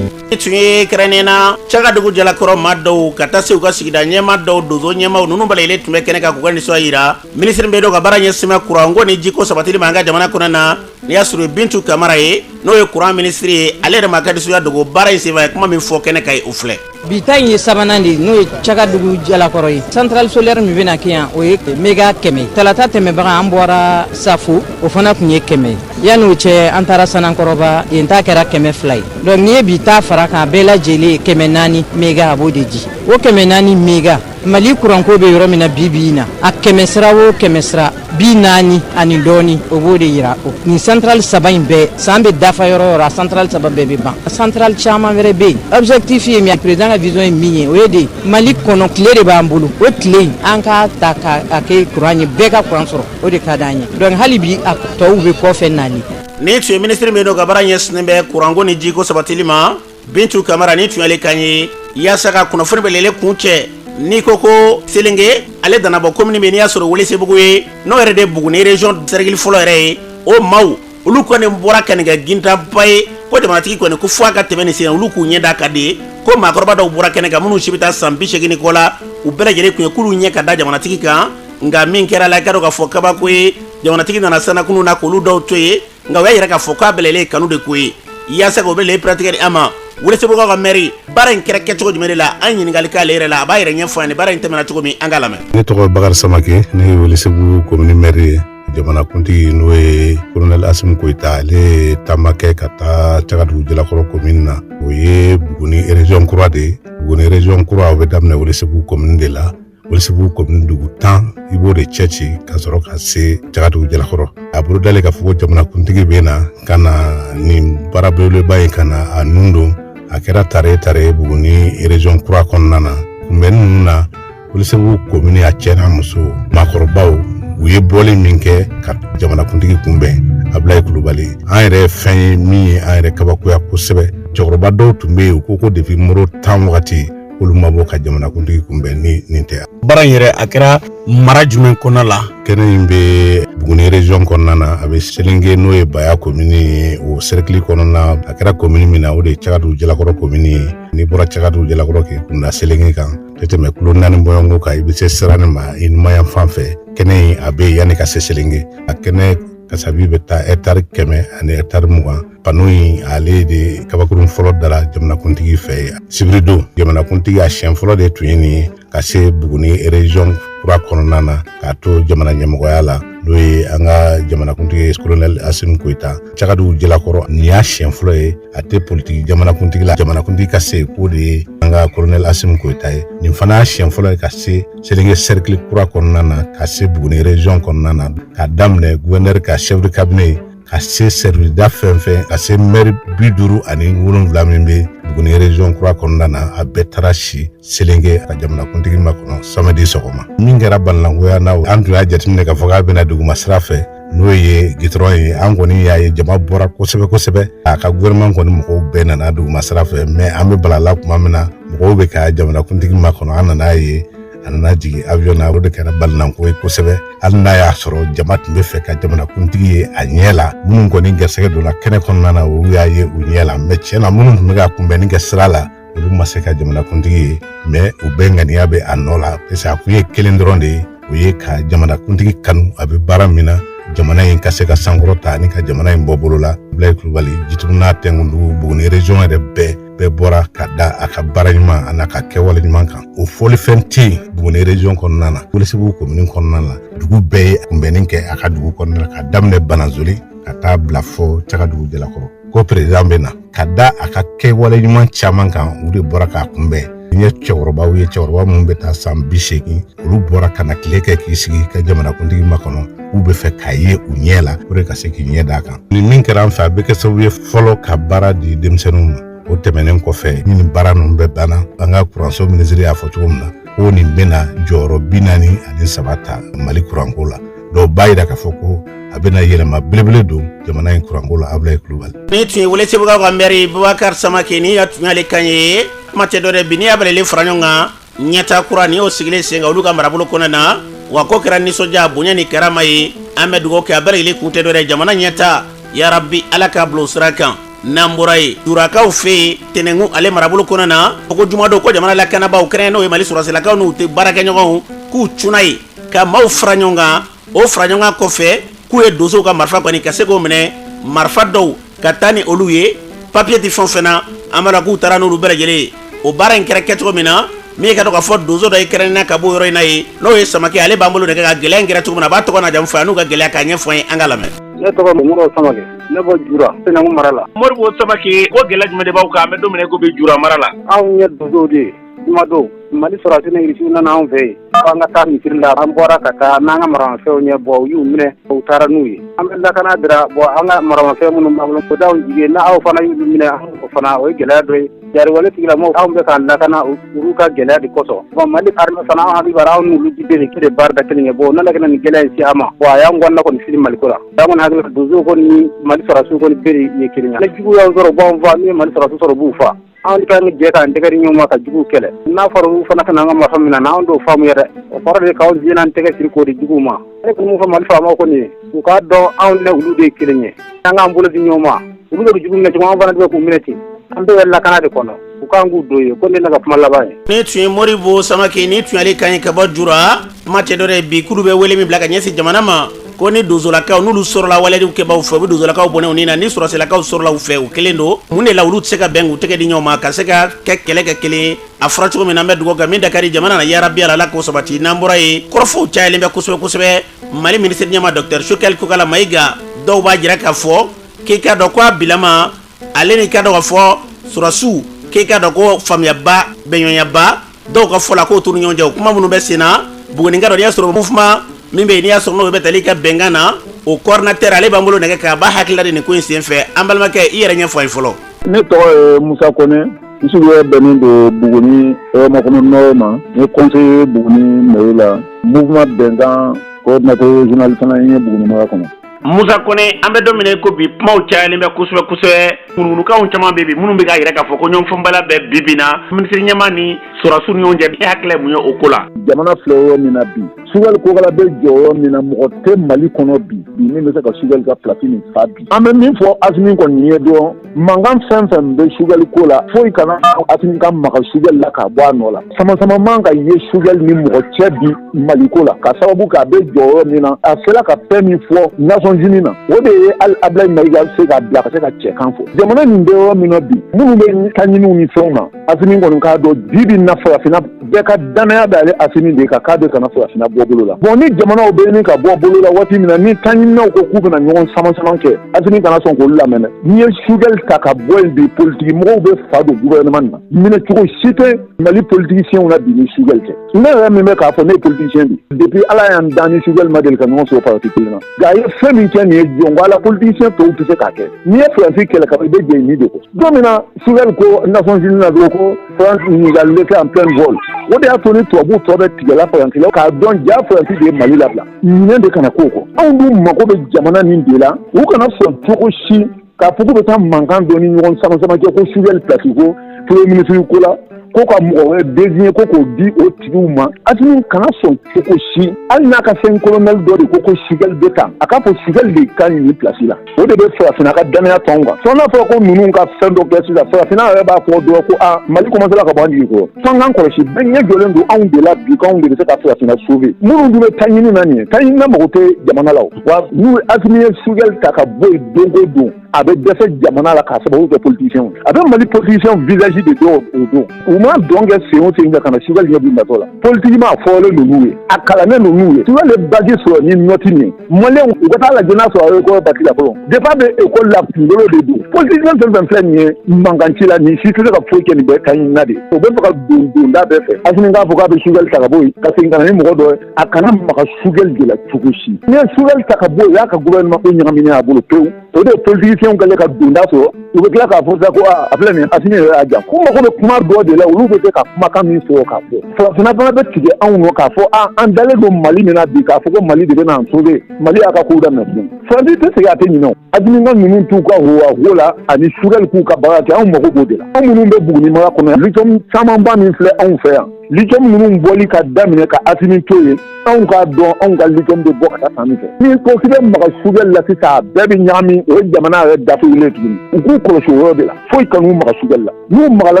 [SPEAKER 7] Nin tun
[SPEAKER 3] ye kɛrɛnnen na cagadugu jalakɔrɔ maa dɔw ka taa se u ka sigida ɲɛmaa dɔw donso ɲɛmaaw ninnu bɛɛ lajɛlen tun bɛ kɛnɛ kan k'u ka nisɔndiya jira minisiri min don ka baara ɲɛsinnen bɛ kuranko ni jiko sabatili ma an ka jamana kɔnɔ na n'i y'a sɔrɔ bintu kamara ye n'o ye kuran minisiri ye ale yɛrɛ m'a ka nisɔndiya dogo baara in senfɛ a ye kuma min fɔ kɛnɛ kan o filɛ bi ta in ye
[SPEAKER 11] sabanan de ye n'o ye cagadugu jalakɔrɔ ye centrale solaire min bɛna kɛ yan o ye mega kɛmɛ ye talata tɛmɛbaga an bɔra safo o fana tun ye kɛmɛ ye yann'o cɛ an taara sanankɔrɔba yen ta kɛra kɛmɛ fila ye donc n'i ye bi ta fara a kan bɛɛ lajɛlen ye kɛmɛ naani mega a b'o de di o kɛmɛ naani mega mali kuranko bɛ yɔrɔ min na bi bi in na a kɛmɛ sira o kɛmɛ sira binaani ani dɔɔni o b'o de yira o nin centrale saba in bɛɛ san bɛ dafa yɔrɔ o yɔrɔ a centrale saba bɛɛ bɛ ban centrale caman wɛrɛ bɛ yen objectif ye min président ka vision ye min ye o ye de mali kɔnɔ tile de b'an bolo o tile in an k'a ta k'a kɛ kuran ye bɛɛ ka kuran sɔrɔ o de ka d'an ye donc hali bi a tɔw bɛ kɔfɛ nali Nin tun ye
[SPEAKER 3] minisiri min don ka baara ɲɛsinnen bɛ kuranko ni jiko sabatili ma bintu kamara nin tun y'ale kan ye yaasa ka kunnafoni bɛlɛle kuncɛ n'i ko ko selenge ale danabɔ komini bɛ n'i y'a sɔrɔ welesebugu ye n'o yɛrɛ de buguni région sɛrikili fɔlɔ yɛrɛ ye o maaw olu kɔni bɔra ka nin kɛ gintanba ye ko jamanatigi kɔni ko fo a ka tɛmɛ nin sen olu k'u ɲɛ da a kan de ye ko maakɔrɔba dɔw bɔra kɛnɛ kan minnu si bɛ taa san bisegin kɔ la u bɛɛ lajɛlen tun ye k'olu ɲɛ ka da jamanatigi kan nka min kɛra la i k'a dɔn k'a fɔ kabako ye jamanatigi nana sanakunu na k'olu dɔw to ye nka o y'a yira k'a fɔ k'a bɛlɛlen kanu de ko ye yaasa k'o bɛ le piratigɛ di an ma welesebugukaw ka mɛri baara in kɛra kɛcogo jumɛn de la an ɲininkali k'ale yɛrɛ la a b'a yɛrɛ ɲɛfɔ an ye baara in tɛmɛna cogo min an k'a lamɛn ne tɔgɔ bakari
[SPEAKER 12] samake ne ye welesebugu komini mɛri ye jamanakuntigi n'o ye kolonɛli asimi goyita ale ye taama kɛ ka taa cagadugu jalakɔrɔ komini na o ye buguni ereziyɔn kura de ye buguni ereziyɔn kura o bɛ daminɛ welesebugu komini de la Welesebugu kɔmini dugu tan i b'o de cɛ ci ka sɔrɔ ka se cagadugu jalakɔrɔ a bolodalen k'a fɔ jamanakuntigi bɛ na ka na nin baara belebeleba in ka na a nun don a kɛra tare tare buguni erezɔn kura kɔnɔna na kunbɛnni ninnu na welesebugu kɔmini a cɛ n'a muso maakɔrɔbaw u ye bɔli min kɛ ka jamanakuntigi kunbɛn abulayi kulubali an yɛrɛ fɛn ye min ye an yɛrɛ kabakoya kosɛbɛ cɛkɔrɔba dɔw tun bɛ yen u ko ko depi moro tan wagati olu ma bɔ ka jamanakuntigi kunbɛn ni nin tɛ baara in yɛrɛ a
[SPEAKER 3] kɛra mara jumɛn kɔnɔna la kɛnɛ in
[SPEAKER 12] bɛ buguni region kɔnɔna na a bɛ selenge n'o ye baya komini ye o serikili kɔnɔna a kɛra komini min na o de ye cagadugu jalakɔrɔ komini ye n'i bɔra cagadugu jalakɔrɔ k'i kun da selenge kan tɛ tɛmɛ kilo naani bɔɲɔgɔnko kan i bɛ se sirannin ma i numanyanfan fɛ kɛnɛ in a bɛ yanni ka se selenge a kɛnɛ kasabi bɛ taa ɛtari kɛmɛ ani ɛtari mugan pano in ale de kabakurun fɔlɔ dara jamanakuntigi fɛ yen sibiridon jamanakuntigi a siɲɛ fɔlɔ de tun ye nin ye ka se buguni erezɔn kura kɔnɔna na k'a to jamana ɲɛmɔgɔya la n'o ye an ka jamanakuntigi kolonɛli asimi goyita cagadugu jalakɔrɔ nin y'a siɲɛ fɔlɔ ye a tɛ politiki jamanakuntigi la jamanakuntigi ka se k'o de ye an ka kolonɛli asimi goyita ye nin fana y'a siɲɛ fɔlɔ ye ka se selenge sɛrikili kura kɔnɔna na ka se buguni erezɔn kɔnɔna na k'a daminɛ guwɛnɛri ka sɛfu de kabine ka se sɛriwisida fɛn fɛn ka se mɛri bi duuru ani wolonwula min bɛ buguni rezɔn kura kɔnɔna na a bɛɛ taara si selenge ka jamanakuntigi makɔnɔ samedi sɔgɔma min kɛra balinankoya na an tun y'a jateminɛ k'a fɔ k'a bɛna duguma sira fɛ n'o ye gitɔrɔn ye an kɔni y'a ye jama bɔra kosɛbɛ kosɛbɛ a ka gouvernement kɔni mɔgɔw bɛɛ nana duguma sira fɛ mɛ an bɛ balala tuma min na mɔgɔw bɛ ka jamanakuntigi makɔnɔ an nan'a ye a nana jigin avion na o de kɛra balinanko ye kosɛbɛ hali n'a y'a sɔrɔ jama tun bɛ fɛ ka jamanakuntigi ye a ɲɛ la minnu kɔni gɛrɛsɛgɛ donna kɛnɛ kɔnɔna na olu y'a ye u ɲɛ la mɛ tiɲɛ na minnu tun bɛ ka kunbɛnni kɛ sira la olu ma se ka jamanakuntigi ye mɛ u bɛɛ ŋaniya bɛ a nɔ la pase a kun ye kelen dɔrɔn de ye o ye ka jamanakuntigi kanu a bɛ baara min na jamana in ka se ka sankɔrɔta ani ka jamana in bɔ bolo la abulayi kulubali jitumu n'a tɛnkundugu buguni region yɛrɛ bɛɛ bɛɛ bɔra ka da a ka baara ɲuman an'a ka kɛwale ɲuman kan o fɔlifɛn tɛ yen buguni region kɔnɔna na welesebugu komini kɔnɔna na dugu bɛɛ ye kunbɛnni kɛ a ka dugu kɔnɔna na ka daminɛ bananzole ka taa bila fɔ cagadugu jalakɔrɔ ko perezidan bɛ na ka da a ka kɛwale ɲuman caman kan u de bɔra k'a kunbɛn n ye cɛkɔrɔbaw ye cɛkɔrɔba minnu bɛ taa san bi seegin olu bɔra ka na tile kɛ k'i sigi ka jamanakuntigi makɔnɔ k'u bɛ fɛ k'a ye u ɲɛ la puru ka se k'i ɲɛ d'a kan ni min kɛra an fɛ a bɛ kɛ sababu ye fɔlɔ ka baara di denmisɛnninw ma o tɛmɛnen kɔfɛ ni nin baara ninnu bɛɛ banna an ka kuranso minisiri y'a fɔ cogo min na ko nin bɛna jɔyɔrɔ bi naani ani saba ta mali kuranko la dɔn o b'a yira k'a fɔ ko a bɛna yɛlɛma belebele don jamana in kuranko la abulayi kulubali nin tun ye welesebugukaw
[SPEAKER 3] ka mɛri bubakari samakɛ ni ya tun y'ale kan ye kuma tɛ dɔ wɛrɛ bi n'i y'a bɛɛ lajɛlen fara ɲɔgɔn kan ɲɛtaa kura ni y'o sigilen sen kan olu ka marabolo kɔnɔna na wa ko kɛra nisɔndiya bonya ni karama ye an bɛ dugawu kɛ a bɛɛ lajɛlen kun tɛ dɔ wɛrɛ jamana ɲɛtaa yarabi ala k'a bila o sira kan n'an bɔra yen jurakaw fɛ yen tɛnɛnkun ale marabolo kɔnɔna na o ko jumadon ko jamana lakanabaaw kɛrɛnnenya n'o ye mali sɔrɔsilakaw n'u jɛbaarakɛɲɔgɔnw k'u cunna yen ka maaw fara ɲɔgɔn kan o faraɲɔgɔn kɔfɛ k'u ye donsow ka marifa kɔni ka se k'o minɛ marifa dɔw ka taa ni olu ye papiye tɛ fɛn fɛn na an b'a la k'u taara n'olu bɛɛ lajɛlen ye o baara in kɛra kɛcogo min na min ka dɔn k'a fɔ donso dɔ ye kɛrɛnnenya ka bɔ yɔrɔ in na ye n'o ye samakɛ ale b'an bolo nɛgɛ kan gɛlɛya in kɛra cogo min na a b'a tɔgɔ n'a jamu fɔ an'u ka gɛlɛya k'a ɲɛfɔ an ye an k'a lamɛn ne tɔgɔ
[SPEAKER 13] moribo samakɛ ne bɔ jura tɛnɛnkun mara la moribo samake ko
[SPEAKER 3] gɛlɛya jumɛn de b'aw kan an bɛ don min na i ko bi jura mara la anw ye donsow de ye
[SPEAKER 13] Jumadon mali sɔrɔsi ni irisi nana anw fɛ yen an ka taa misiri la an bɔra ka taa n'an ka maramafɛnw ye bon u y'u minɛ u taara n'u ye an bɛ lakana de ra bon an ka maramafɛn minnu b'an bolo o d'anw jigi n'aw fana y'u minɛ o fana o ye gɛlɛya dɔ ye jatigɛwale tigilamaaw anw bɛ k'an lakana olu ka gɛlɛya de kosɔn bon mali armée fana an hakili b'a ra anw n'olu jɛlen ka baara da kelen kɛ bon ne ka ni gɛlɛya in se an ma wa a y'an kɔnɔna kɔni fili mali ko la an kɔni hakili donso kɔni mali sɔrɔsi kɔni bɛɛ de ye kelen ye ni jugu y'an sɔrɔ b'an faa ni mali sɔrɔsi sɔrɔ b'u faa Anw de kan ka jɛ k'an tɛgɛ di ɲɔgɔn ma ka juguw kɛlɛ, n'a fɔra olu fana ka na an ka marifa minɛ an na, anw t'o faamu yɛrɛ, o kɔrɔ de ye k'aw diɲɛ n'an tɛgɛ siri k'o di juguw ma, ne kɔni b'o fɔ Mali faamaw kɔni ye, u k'a dɔn anw ni olu de ye kelen ye, an k'an bolo di ɲɔgɔn ma, olu bɛ ka jugu minɛ cogo min na, anw fana bɛ k'u minɛ ten, an bɛɛ bɛ lakana de kɔnɔ, u ka kan k'u don yen, ko nin ye ne ka kuma laban ye. Nin tun ye Moribo Samake, nin tun y'ale kan ye ka bɔ Jura, kuma tɛ dɔ wɛrɛ ye bi k'olu bɛ wele min bila ka ɲɛsin jamana ma. Ko ni donsolakaw n'olu sɔrɔla waleyajugukɛbagaw fɛ u bɛ donsolakaw bɔnɛ u ni na ni sɔrɔsilakaw sɔrɔla u fɛ o kelen don mun de la olu tɛ se ka bɛn k'u tɛgɛ di ɲɔgɔn ma ka se ka kɛ kɛlɛ kɛ kelen a fɔra cogo min na an bɛ dugawu kɛ min da ka di jamana na yarabi ala k'o sabati n'an bɔra yen kɔrɔfɔw cayalen bɛ kosɛbɛ kosɛbɛ mali minisiri ɲɛma docteur sugɛli kokala mayiga dɔw b'a jira k'a fɔ k'i k'a dɔn ko a bilama ale ni ka dɔn k'a fɔ sɔrɔsiw k'i k'a dɔn ko faamuyaba bɛnɲɔgɔnyaba dɔw ka fɔ la k'o t'u ni ɲɔgɔn cɛ o kuma minnu bɛ sen na Buguni ka dɔn n'i y'a sɔrɔ mouvement min bɛ yen n'i y'a sɔrɔ n'o bɛ tali ka bɛnkan na o coordinateur ale b'an bolo nɛgɛ kan a b'a hakilila di nin ko in senfɛ an balimakɛ i yɛrɛ ɲɛfɔ an ye fɔlɔ. ne tɔgɔ
[SPEAKER 14] ye musa kɔnɛ n sigiyɔrɔ bɛnnen don buguni hɛrɛmakɔnɔ nɔrɔ ma n ye conseiller buguni mairie la mouvement bɛnkan coordinateur régional fana ye buguni mara kɔnɔ. musa
[SPEAKER 3] kɔnɛ an bɛ don min na ko bi kumaw cayalen bɛ kosɛbɛ kosɛbɛ ŋunuŋunukanw caman bɛ bi minnu bɛ k'a yira k'a fɔ ko ɲɔgɔnfaamubaliya bɛ bi bi na minisiri ɲɛma ni sɔrɔsiw ni ɲɔgɔn cɛ e hakilila mun ye o ko la jamana filɛ yɔrɔ min
[SPEAKER 14] na bi sugali kokala bɛ jɔ yɔrɔ min na mɔgɔ tɛ mali kɔnɔ bi bi min bɛ se ka sugali ka pilasi nin fa bi an bɛ min fɔ asimi kɔni ye dɔrɔn Mankan fɛn fɛn bɛ sugɛli ko la foyi kana Asimi ka maga sugɛli la k'a bɔ a nɔ la sama sama man ka ye sugɛli ni mɔgɔ cɛ bi Mali ko la ka sababu kɛ a bɛ jɔ yɔrɔ min na a sera ka fɛn min fɔ Nations Unies na o de ye hali Abilayi Mayiga se k'a bila ka se ka cɛkan fɔ jamana nin bɛ yɔrɔ min na bi minnu bɛ taɲiniw ni fɛnw na Asimi kɔni k'a dɔn bi bi na farafina bɛɛ ka danaya b'ale asimi de kan k'a bɛ kana farafina bɔ bolo la bon ni jamanaw bɛ ɲini ka bɔ bolo la waati min na ni taɲininaw ko k'u bɛna ɲɔgɔn sama sama kɛ asimi kana sɔn k'olu lamɛn dɛ n'i ye Choguel ta ka bɔ yen bi politiki mɔgɔw bɛ fa don gouvernement na minɛ cogo si tɛ mali politiciens na bi ni Choguel tɛ ne yɛrɛ min bɛ k'a fɔ ne ye politicien de ye depuis ala y'an dan ni Choguel ma deli ka ɲɔgɔn sɔrɔ parti kelen na nka a ye fɛn min kɛ nin ye jɔn ko ala politicien tɔw tɛ se k'a kɛ n'i ye faransi kɛlɛ ka i bɛ jɛ ni de kɔ don min na Choguel ko Nations Unies na dɔrɔn ko faransi y'an lâcher en plein vol o de y'a to ni tubabu tɔ bɛɛ tigɛla faransi la k'a dɔn ja faransi de ye mali labila ɲinɛ de kana k'o kɔ anw dun mago bɛ jamana nin de la u kana sɔn cogo si K'a fɔ k'u bɛ taa mankan dɔ ni ɲɔgɔn sama sama kɛ ko Choguel plasi ko premier ministre ko la ko ka mɔgɔ wɛrɛ désigner ko k'o di o tigiw ma Asimi kana sɔn cogo si hali n'a ka fɛn colonel dɔ de ko ko Choguel bɛ ta a k'a fɔ Choguel de ka ɲi plasi la o de bɛ farafina ka danaya to anw kan fo n'a fɔra ko ninnu ka fɛn dɔ kɛ sisan farafina yɛrɛ b'a fɔ dɔrɔn ko aa mali commencera ka bɔ an jigi kɔrɔ f'an k'an kɔlɔsi bɛɛ ɲɛ jɔlen don anw de la bi k'anw de bɛ se ka farafina sauver minnu dun bɛ taɲini na nin ye taɲinina mago tɛ jamana la wa n'u ye Asimi ye Choguel ta ka bɔ yen don o don a bɛ dɛsɛ jamana la k'a sababu kɛ politiciens ye a bɛ Mali politiciens visage de dɔn o don u ma dɔn kɛ sen o sen fɛ ka na Choguel ɲɛ b'u natɔ la politiquement a fɔlen don n'u ye a kalannen don n'u ye Choguel ye bac sɔrɔ ni nɔti min ye maliyɛnw u ka taa lajɛ n'a sɔrɔ a record batila fɔlɔ depuis a bɛ école la kunkolo de don politicien fɛn fɛn filɛ nin ye mankan ci la nin si tɛ se ka foyi kɛ nin bɛɛ taɲinina de o bɛ fɛ ka don donda bɛɛ fɛ Asimi k'a fɔ k'a bɛ Choguel ta ka bɔ yen ka segin ka na ni mɔgɔ dɔ ye a kana maga Choguel de la cogo si n'i ye Choguel ta ka bɔ o y'a ka gouvernement ko ɲagaminen a bolo pewu o de ye politiciens kɛlen ka donda sɔrɔ u bɛ tila k'a fɔ sisan ko a filɛ nin ye Asimi yɛrɛ y'a jan ko mago bɛ kuma dɔ de la olu bɛ se ka kumakan min sɔrɔ k'a fɔ farafinna fana bɛ tigɛ anw nɔ k'a fɔ a an dalen don Mali min na bi k'a fɔ ko Mali de bɛna an sauver Mali y'a ka kow daminɛ tuguni Faransi tɛ sɛgɛn a tɛ ɲinɛ o Asimi ka ninnu t'u ka howaho la ani Choguel k'u ka baara kɛ anw mago b'o de la anw minnu bɛ Buguni mara kɔnɔ yan lithium camanba min filɛ anw fɛ yan lithium ninnu bɔli ka daminɛ ka asimi to yen anw k'a dɔn anw ka lithium bɛ bɔ ka taa fan min fɛ ni ko k'i bɛ maga Choguel la sisan a bɛɛ bɛ ɲagami o ye jamana yɛrɛ datugulen tuguni u k'u kɔlɔsi o yɔrɔ de la foyi kan'u maga Choguel la n'u magala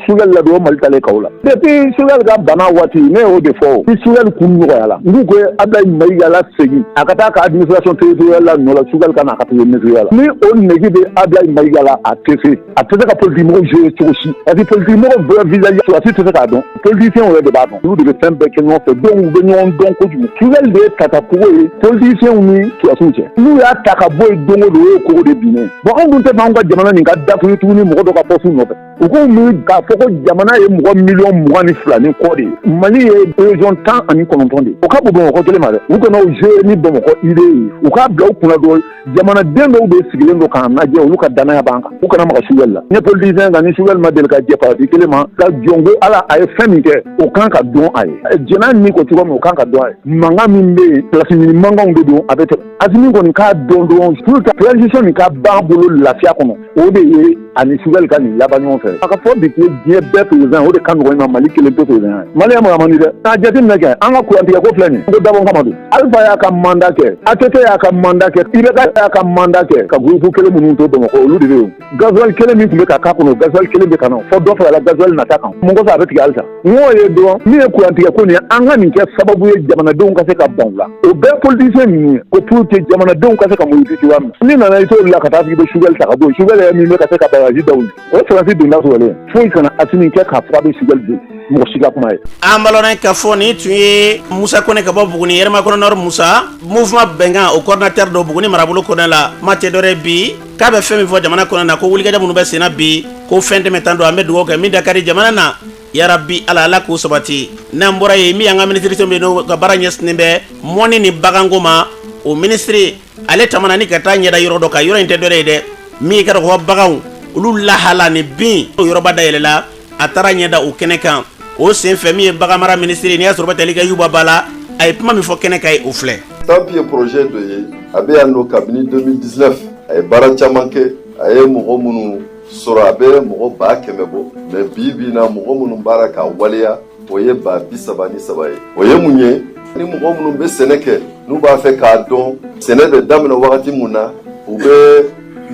[SPEAKER 14] Choguel la dɔrɔn mali taalen chaos la depuis Choguel ka bana waati ne y'o de fɔ o ni Choguel kun nɔgɔyala n k'u ko abdulayi mayiga lasegin a ka taa ka administration territoriale la nɔ la Choguel ka na a ka taa nettoyer la ni o nege bɛ abdulayi mayiga la a tɛ se a tɛ se ka politiki mɔgɔw jouer cogo si parce que politiki mɔgɔw bɛɛ visage sɔrɔdasi tɛ se k'a dɔn politiciens yɛrɛ de b'a dɔn olu de bɛ fɛn bɛɛ kɛ ɲɔgɔn fɛ donc u bɛ ɲɔgɔn dɔn kojugu Choguel de ye tata kogo ye politiciens ni sɔrɔdasiw cɛ n'u y'a ta ka bɔ yen don o don o ye kogo de binnen bon anw dun tɛ fɛ anw ka jamana nin ka datugu tuguni mɔgɔ dɔ ka postes nɔfɛ u k'u miiri k'a fɔ ko jamana ye mɔgɔ miliyɔn mugan ni fila ni kɔ de ye mali ye région tan ani kɔnɔntɔn de ye o ka bon bamakɔ kelen ma dɛ u kana o jouer ni bamakɔ idée ye u k'a bila u kunna dɔrɔn jamanaden dɔw bɛ sigilen don k'an lajɛ olu ka dannaya b'an kan u kana maga sugɛli la ne politisiyɛn kan ni sugɛli ma deli ka jɛ parti kelen ma nka jɔn ko ala a ye fɛn min kɛ o kan ka dɔn a ye jɛn'a ni ko cogo min o kan ka dɔn a ye mankan min bɛ yen pilasi ɲini mankanw de don a bɛ tɛmɛ asimi kɔni k'a dɔn dɔrɔn pour que transition nin ka ban bolo lafiya kɔnɔ o de ye ani sugɛli ka nin laban ɲɔgɔn fɛ a ka fɔ bi ko diɲɛ bɛɛ perezan o de ka nɔgɔ ma mali kelen to perezan ye mali yan mara man di dɛ k'a jateminɛ kɛ an ka kurantigɛ ko filɛ nin ko dabɔ kama don alifa y'a ka manda kɛ atete y'a ka manda kɛ ibeka y'a ka manda kɛ ka gurupu kelen minnu to bamakɔ olu de bɛ yen gazuwali kelen min tun bɛ ka k'a kɔnɔ gazuwali kelen bɛ ka na fɔ dɔ farala gazuwali nata kan mun kosɔn a bɛ tigɛ halisa o ye dɔrɔn min ye kurantigɛ ko nin ye an ka nin kɛ sababu ye jamanadenw ka se ka ban u la o bɛɛ politisiyɛn ninnu ye ko pour que jamanadenw ka se ka muruti cogoya min n'i nana i t'o la ka taa f'i bɛ sugɛli ta ka bɔ yen sugɛli yɛrɛ min bɛ ka se ka bagaji daw ye o sɔrɔsi donda sɔrɔlen foyi kana asimi kɛ k'a fɔ a bɛ sugɛli don mɔgɔ si ka kuma ye an balɔnɛ ka
[SPEAKER 3] fɔ nin tun ye musa kone ka bɔ buguni hɛrɛmakɔnɔ nɔri musa mouvement bɛnkan o coordinateur don buguni marabolo kɔnɛ la kuma tɛ dɔ wɛrɛ bi k'a bɛ fɛn min fɔ jamana kɔnɔ na ko wulikajɔ minnu bɛ senna bi ko fɛn tɛmɛta don an bɛ dugawu kɛ min dakari jamana na yarabi ala ala k'o sabati n'an bɔra yen min y'an ka minisiriso min n'o ka baara ɲɛsinnen bɛ mɔnni ni baganko ma o minisiri ale taamana ni ka taa ɲɛ da yɔrɔ dɔ kan yɔrɔ in tɛ dɔ wɛrɛ ye dɛ min ka dɔgɔ baganw olu lahala ni bin o yɔrɔba dayɛlɛla a taara ɲɛ da o kɛnɛ kan o senfɛ min ye baganmara minisiri n'i y'a sɔrɔ bɛ tali kɛ yuba ba la a ye kuma min fɔ kɛnɛ kan yen o filɛ stamp ye projet
[SPEAKER 15] dɔ ye a bɛ yan nɔ kabini 2019 a ye baara caman kɛ a ye mɔgɔ minnu sɔrɔ a bɛ mɔgɔ baa kɛmɛ bɔ mais bi bi na mɔgɔ minnu b'a la k'a waleya o ye ba bi saba ni saba ye o ye mun ye ni mɔgɔ minnu bɛ sɛnɛ kɛ n'u b'a fɛ k'a dɔn sɛnɛ bɛ daminɛ wagati mun na u bɛ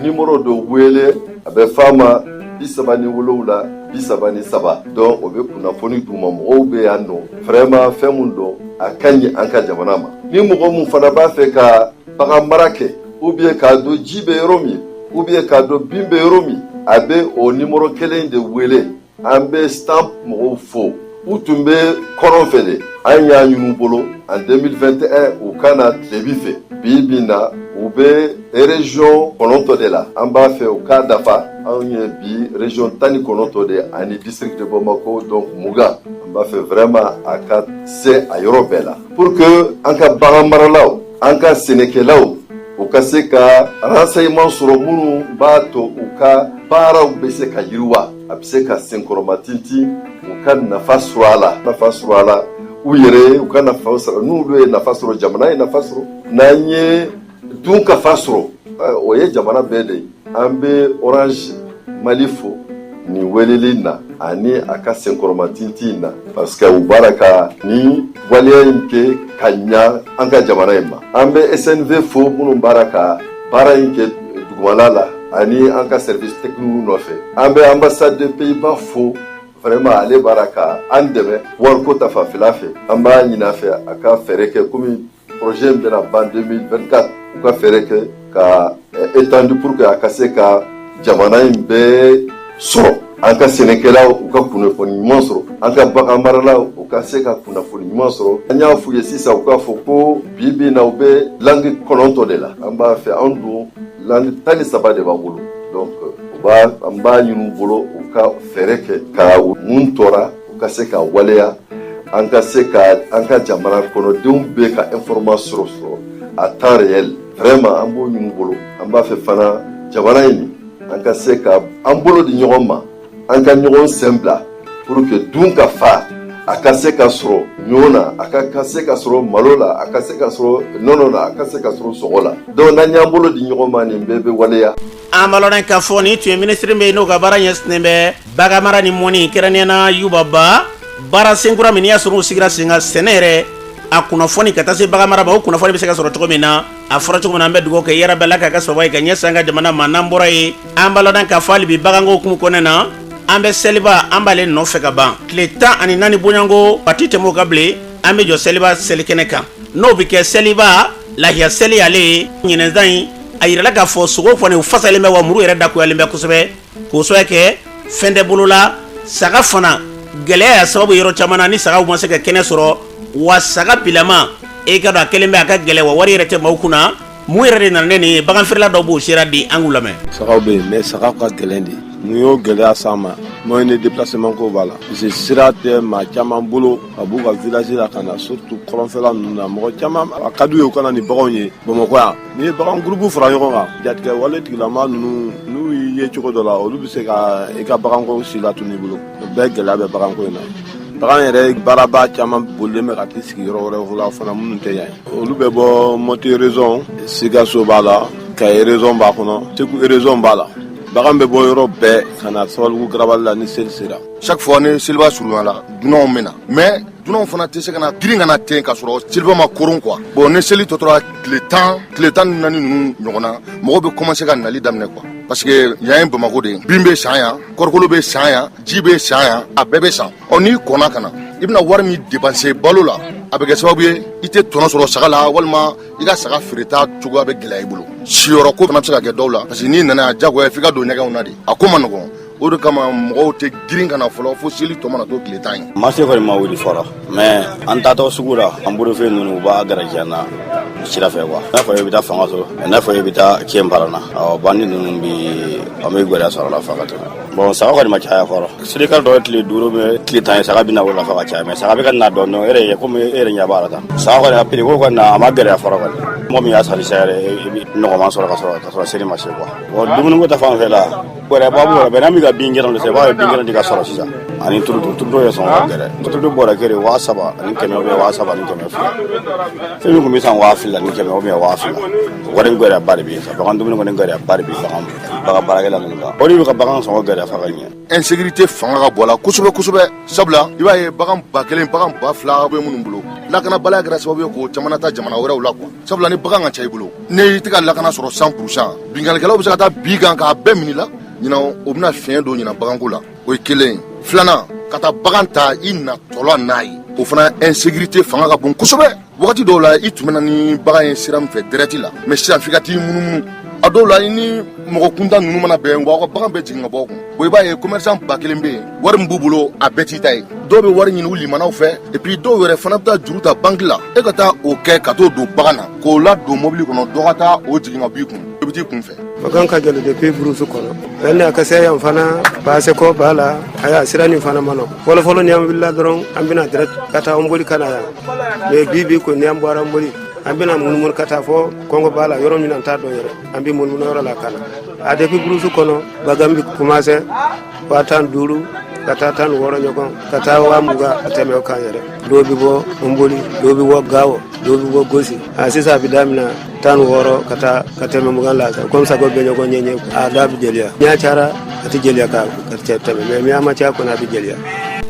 [SPEAKER 15] nimoro dɔ wele a bɛ f'a ma bi saba ni wolowula bi saba ni saba donc o bɛ kunnafoni d'u ma mɔgɔw bɛ yan nɔ vraiment fɛn min don a ka ɲi an ka jamana ma ni mɔgɔ min fana b'a fɛ ka bagan mara kɛ ou bien k'a dɔn ji bɛ yɔrɔ min ou bien k'a dɔn bin bɛ yɔrɔ min a bɛ o nimoro kelen de wele an bɛ stamp mɔgɔw fo u tun bɛ kɔrɔn fɛ de an y'a ɲin'u bolo en 2021 u ka na tilebin fɛ bi bi na u bɛ region kɔnɔntɔn de la an b'a fɛ u k'a dafa anw ye bi region tan ni kɔnɔntɔn de ani district de bamako donc mugan an b'a fɛ vraiment a ka se a yɔrɔ bɛɛ la pour que an ka bagan maralaw an ka sɛnɛkɛlaw u ka se ka renseignement sɔrɔ minnu b'a to u ka baaraw bɛ se ka yiriwa a bɛ se ka senkɔrɔmatinti u ka nafa sɔrɔ a la nafa sɔrɔ a la u yɛrɛ u ka nafa sɔrɔ n'u ye nafa sɔrɔ jamana ye nafa sɔrɔ n'an ye dunkafa sɔrɔ eh, o ye jamana bɛɛ de ye an bɛ orange mali fo nin weleli na ani a ka senkɔrɔmatinti in na parce que u b'a la ka nin waleya in kɛ ka ɲa an ka jamana in ma an bɛ snv fo minnu b'a la ka baara in kɛ dugumala la ani an ka service technique nɔfɛ an bɛ ambassade de pays-bas fo vraiment ale b'a la ka an dɛmɛ wariko ta fanfɛla fɛ an b'a ɲini a fɛ a ka fɛɛrɛ kɛ komi projet in bɛna ban 2024 u ka fɛɛrɛ kɛ ka eh, étendu pour que a ka se ka jamana in bɛɛ sɔrɔ an ka sɛnɛkɛlaw u ka kunnafoni ɲuman sɔrɔ an ka bagan maralaw u ka se ka kunnafoni ɲuman sɔrɔ an y'a f'u ye sisan u k'a fɔ ko bi bi in na u bɛ langue kɔnɔntɔn de la an b'a fɛ an dun langue tan ni saba de b'an bolo donc u b'a an b'a ɲin'u bolo u ka fɛɛrɛ kɛ ka min tora u ka se ka waleya an ka se ka an ka jamana kɔnɔdenw bɛɛ ka information sɔrɔ à temps réel vraiment an b'o ɲini u bolo an b'a fɛ fana jamana in an ka se ka an bolo di ɲɔgɔn ma an ka ɲɔgɔn sen bila pour que dunkafa a ka se ka sɔrɔ ɲɔ na a ka se ka sɔrɔ malo la a ka se ka sɔrɔ nɔnɔ la a ka se ka sɔrɔ sogo la donc n'an y'an bolo di ɲɔgɔn ma nin bɛɛ bɛ waleya an b'a lɔn
[SPEAKER 3] k'a fɔ nin tun ye minisiri bɛ yen n'o ka baara ɲɛsinnen bɛ baganmara ni mɔnni kɛrɛnkɛrɛnnenya na yuba ba baara senkura min y'a sɔrɔ u sigira sen kan sɛnɛ yɛrɛ a kunnafoni ka taa se baganmara ma o kunnafoni bɛ se ka sɔrɔ cogo min na a fɔra cogo min na an bɛ dugawu kɛ yɛrɛ bɛɛ la k'a kɛ sɔrɔ ye ka ɲɛsin an ka jamana ma n'an bɔra yen an b'a lɔn k'a fɔ hali bi baganko hukumu kɔnɔna na an bɛ seliba an b'ale nɔfɛ ka ban tile tan ani naani bonyanko a ti tɛmɛ o kan bilen an bɛ jɔ seliba selikɛnɛ kan n'o bɛ kɛ seliba lahiya seli ale ye ɲinɛn san in a yirala k'a fɔ sogo kɔni u fasalen bɛ wa muru yɛrɛ dagoyalen bɛ kosɛbɛ k'o sababu kɛ fɛn tɛ bolo la saga fana gɛlɛya y'a sababu yɔrɔ caman na ni sagaw ma se ka kɛnɛ sɔrɔ wa saga bilama i k'a dɔn a kɛlen bɛ a ka gɛlɛn wa wari yɛrɛ tɛ maaw kunna mun yɛrɛ de nana ni nin ye baganfeerela dɔw b'o sera di an k'u lamɛn. sagaw bɛ yen mais
[SPEAKER 16] sagaw ka gɛlɛn dɛ mun y'o gɛlɛya s'an ma moyen de déplacement ko b'a la parce que sira tɛ maa caman bolo ka b'u ka village la ka na surtout kɔrɔnfɛla ninnu na mɔgɔ caman a ka d'u ye u ka na ni baganw ye bamakɔ yan n'i ye bagan groupe fara ɲɔgɔn kan jatigɛwale tigilamaw ninnu n'u y'i ye cogo dɔ la olu bɛ se ka i ka baganko silatunu i bolo o bɛɛ gɛlɛya bɛ baganko in na bagan yɛrɛ marabaa caman bolilen bɛ ka t'i sigi yɔrɔ wɛrɛw la fana minnu tɛ yan olu bɛ bɔ mɔti région sikaso b'a la kayi région b'a kɔnɔ segu région b'a la bagan bɛ bɔ yɔrɔ bɛɛ ka na sabalibugu garabali la ni seli sera chaque fois ni seliba
[SPEAKER 17] surunyana dunanw bɛ na mais dunanw fana tɛ se ka na girin ka na ten ka sɔrɔ seliba ma koron quoi bon ni seli tɔ tora tile tan tile tan ni naani ninnu ɲɔgɔn na mɔgɔw bɛ commencer ka nali daminɛ quoi parce que yan ye bamako de ye bin bɛ san yan kɔɔrikolo bɛ san yan ji bɛ san yan a bɛɛ bɛ san ɔ n'i kɔnna ka na i bɛna wari min dépenser balo la a bɛ kɛ sababu ye i tɛ tɔnɔ sɔrɔ saga la walima i ka saga feereta cogoya bɛ gɛlɛya i bolo siyɔrɔ ko fana bɛ se ka kɛ dɔw la parce que n'i nana yan jagoya f'i ka don ɲɛgɛnw na dɛ a ko man nɔgɔn o de kama mɔgɔw tɛ girin ka na fɔlɔ fo seli tɔ mana to tile tan ye marché kɔni ma wuli
[SPEAKER 18] fɔlɔ mais an taatɔ sugu la an bolofɛn ninnu u b'a garajiya na sira fɛ quoi n'a fɔ i bɛ taa fanga sɔrɔ n'a fɔ i bɛ taa kiyɛn baara na ɔ bandi ninnu bi an bɛ gɛlɛya sɔrɔ la fa ka tɛmɛ bon saga kɔni ma caya fɔlɔ seli ka tɔ ye tile duuru bɛ tile tan ye saga bɛ na o la fa ka caya mais saga bɛ ka na dɔɔnin dɔɔnin e yɛrɛ komi e yɛrɛ ɲɛ b'a la tan saga kɔni a prix ko kɔni na a ma gɛlɛya fɔlɔ kɔni mɔgɔ min y'a sari sa yɛrɛ i bɛ nɔgɔman sɔrɔ ka sɔrɔ ka sɔrɔ seli ma se quoi bon dumuniko ta fan fɛ la gɛlɛya ba b'o la bɛnna min ka bin kɛnɛ de sa i b'a ye bin kɛnɛ de ka sɔrɔ sisan ani turuto turuto ye sɔngɔ ka gɛlɛn turuto bɔrɛ kelen waa saba ani kɛmɛ ou bien waa saba ani kɛmɛ fila fɛn min tun bɛ san waa fila ni kɛmɛ ou bien waa fila wari gɛlɛya ba de bɛ yen sa bagan dumuni kɔni gɛlɛya ba de bɛ bagan bagan baarakɛla ninnu kan o de bɛ ka bagan sɔngɔ gɛlɛya fa ka ɲɛ insécurité fanga
[SPEAKER 17] ka bon a la kosɛbɛ kosɛbɛ sabula i b'a ye bagan ba kelen bagan ba fila bɛ minnu bolo lakanabaliya kɛra sababu ye k'o caman lataa jamana wɛrɛw la quoi sabula ni bagan ka ca i bolo ni i tɛ ka lakana sɔrɔ cent pour cent binkannikɛlaw bɛ se ka taa b'i kan k'a bɛɛ minɛ i la ɲinan o bɛna fiɲɛ don ɲinan baganko la o ye kelen ye filanan ka taa bagan ta i natɔ la n'a ye o fana insécurité fanga ka bon kosɛbɛ wagati dɔw la i tun bɛ na ni bagan ye sira min fɛ direct la mais sisan f'i ka t'i munumunu a dɔw la i ni mɔgɔ kuntan ninnu mana bɛn wa u ka bagan bɛɛ jigin ka bɔ kun bon i b'a ye commerçant ba kelen bɛ yen wari min b'u bolo a bɛɛ t'i ta ye dɔw bɛ wari ɲini u limanaw fɛ et puis dɔw yɛrɛ fana bɛ taa juru ta banki la e ka taa o kɛ ka t'o don bagan na k'o ladon mɔbili kɔnɔ dɔ ka taa o jigin ka b'i kun i bɛ t'i kun fɛ bagan ka gɛlɛn depuis
[SPEAKER 19] burusu kɔnɔ yanni a ka se yan fana baasiko b'a la aya sira nin fana man nɔgɔn fɔlɔfɔlɔ ni an wulila dɔrɔn an bɛ na direct ka taa nboli ka na yan mais bi bi ko ni an bɔra nboli an bɛna munumunu ka taa fɔ kɔngɔ b'a la yɔrɔ min na n t'a dɔn yɛrɛ an bɛ munumunu yɔrɔ la ka na a depuis burusu kɔnɔ bagan bɛ commencer waa tan duuru ka taa tan ni wɔɔrɔ ɲɔgɔn ka taa waa mugan a tɛmɛ o kan yɛrɛ dɔw bɛ bɔ nboli dɔw bɛ bɔ gawo dɔw bɛ bɔ gosi a sisan a bɛ daminɛ tan ni wɔɔrɔ ka taa ka tɛmɛ mugan la komi saga bɛ ɲɔgɔn ɲɛ ɲɛ a da bɛ gɛlɛya n'a cayara a tɛ gɛlɛya ka tɛmɛ mais ni a ma caya kɔni a bɛ gɛlɛya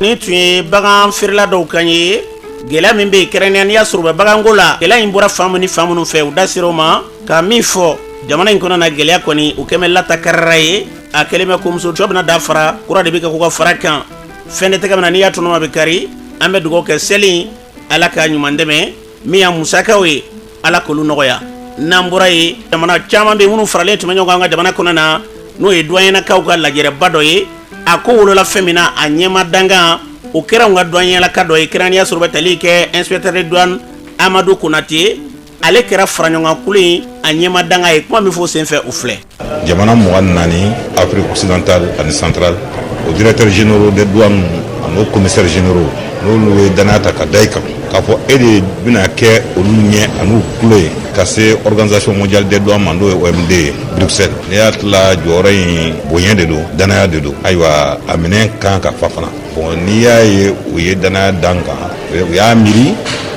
[SPEAKER 19] nin tun ye
[SPEAKER 3] bagan feerela dɔw kan ye gɛlɛya min bɛ yen kɛrɛnkɛrɛnnenya n'i y'a sɔrɔ u bɛ baganko la gɛlɛya in bɔra fan min ni fan minnu fɛ u da sera o ma ka min fɔ jamana in kɔnɔ na gɛlɛya kɔni u kɛmɛ lata karara ye a kɛlen bɛ komuso cɔ bɛna da fara kura de bɛ kɛ k'u ka fara kan fɛn de tɛgɛ min na n'i y'a tɔnɔma bɛ kari an bɛ dugawu kɛ seli ala ka ɲuman dɛmɛ min y'a musakaw ye ala k'olu nɔgɔya n'an bɔra yen jamana caman bɛ minnu faralen tun bɛ ɲɔgɔn kan an ka jamana kɔnɔ na n'o ye duwanyɛlakaw ka lajɛrɛba dɔ ye a ko wolola fɛn min na a ɲɛmaa dankan o kɛra an ka duwanyɛlaka dɔ ye kɛrɛnkɛrɛnnenya sɔrɔ bɛ tali kɛ inspecteur de douane amadu konatɛ ale kɛra faraɲɔgɔnkulu in a ɲɛmaa dankan ye kuma min fɔ senfɛ o filɛ jamana
[SPEAKER 20] mugan ni naani afrique occidentale ani centrale o directeurs généraux de douane an'o commissaires généraux n'olu ye danaya ta ka da i kan k'a fɔ e de bɛna kɛ olu ɲɛ an'u tulo ye ka se organisation mondiale des douanes ma n'o ye omd bruxelles ne hakili la jɔyɔrɔ in bonya de don danaya de don ayiwa a minɛn kan ka fa fana Bon n'i y'a ye u ye danaya d'an kan u y'a miiri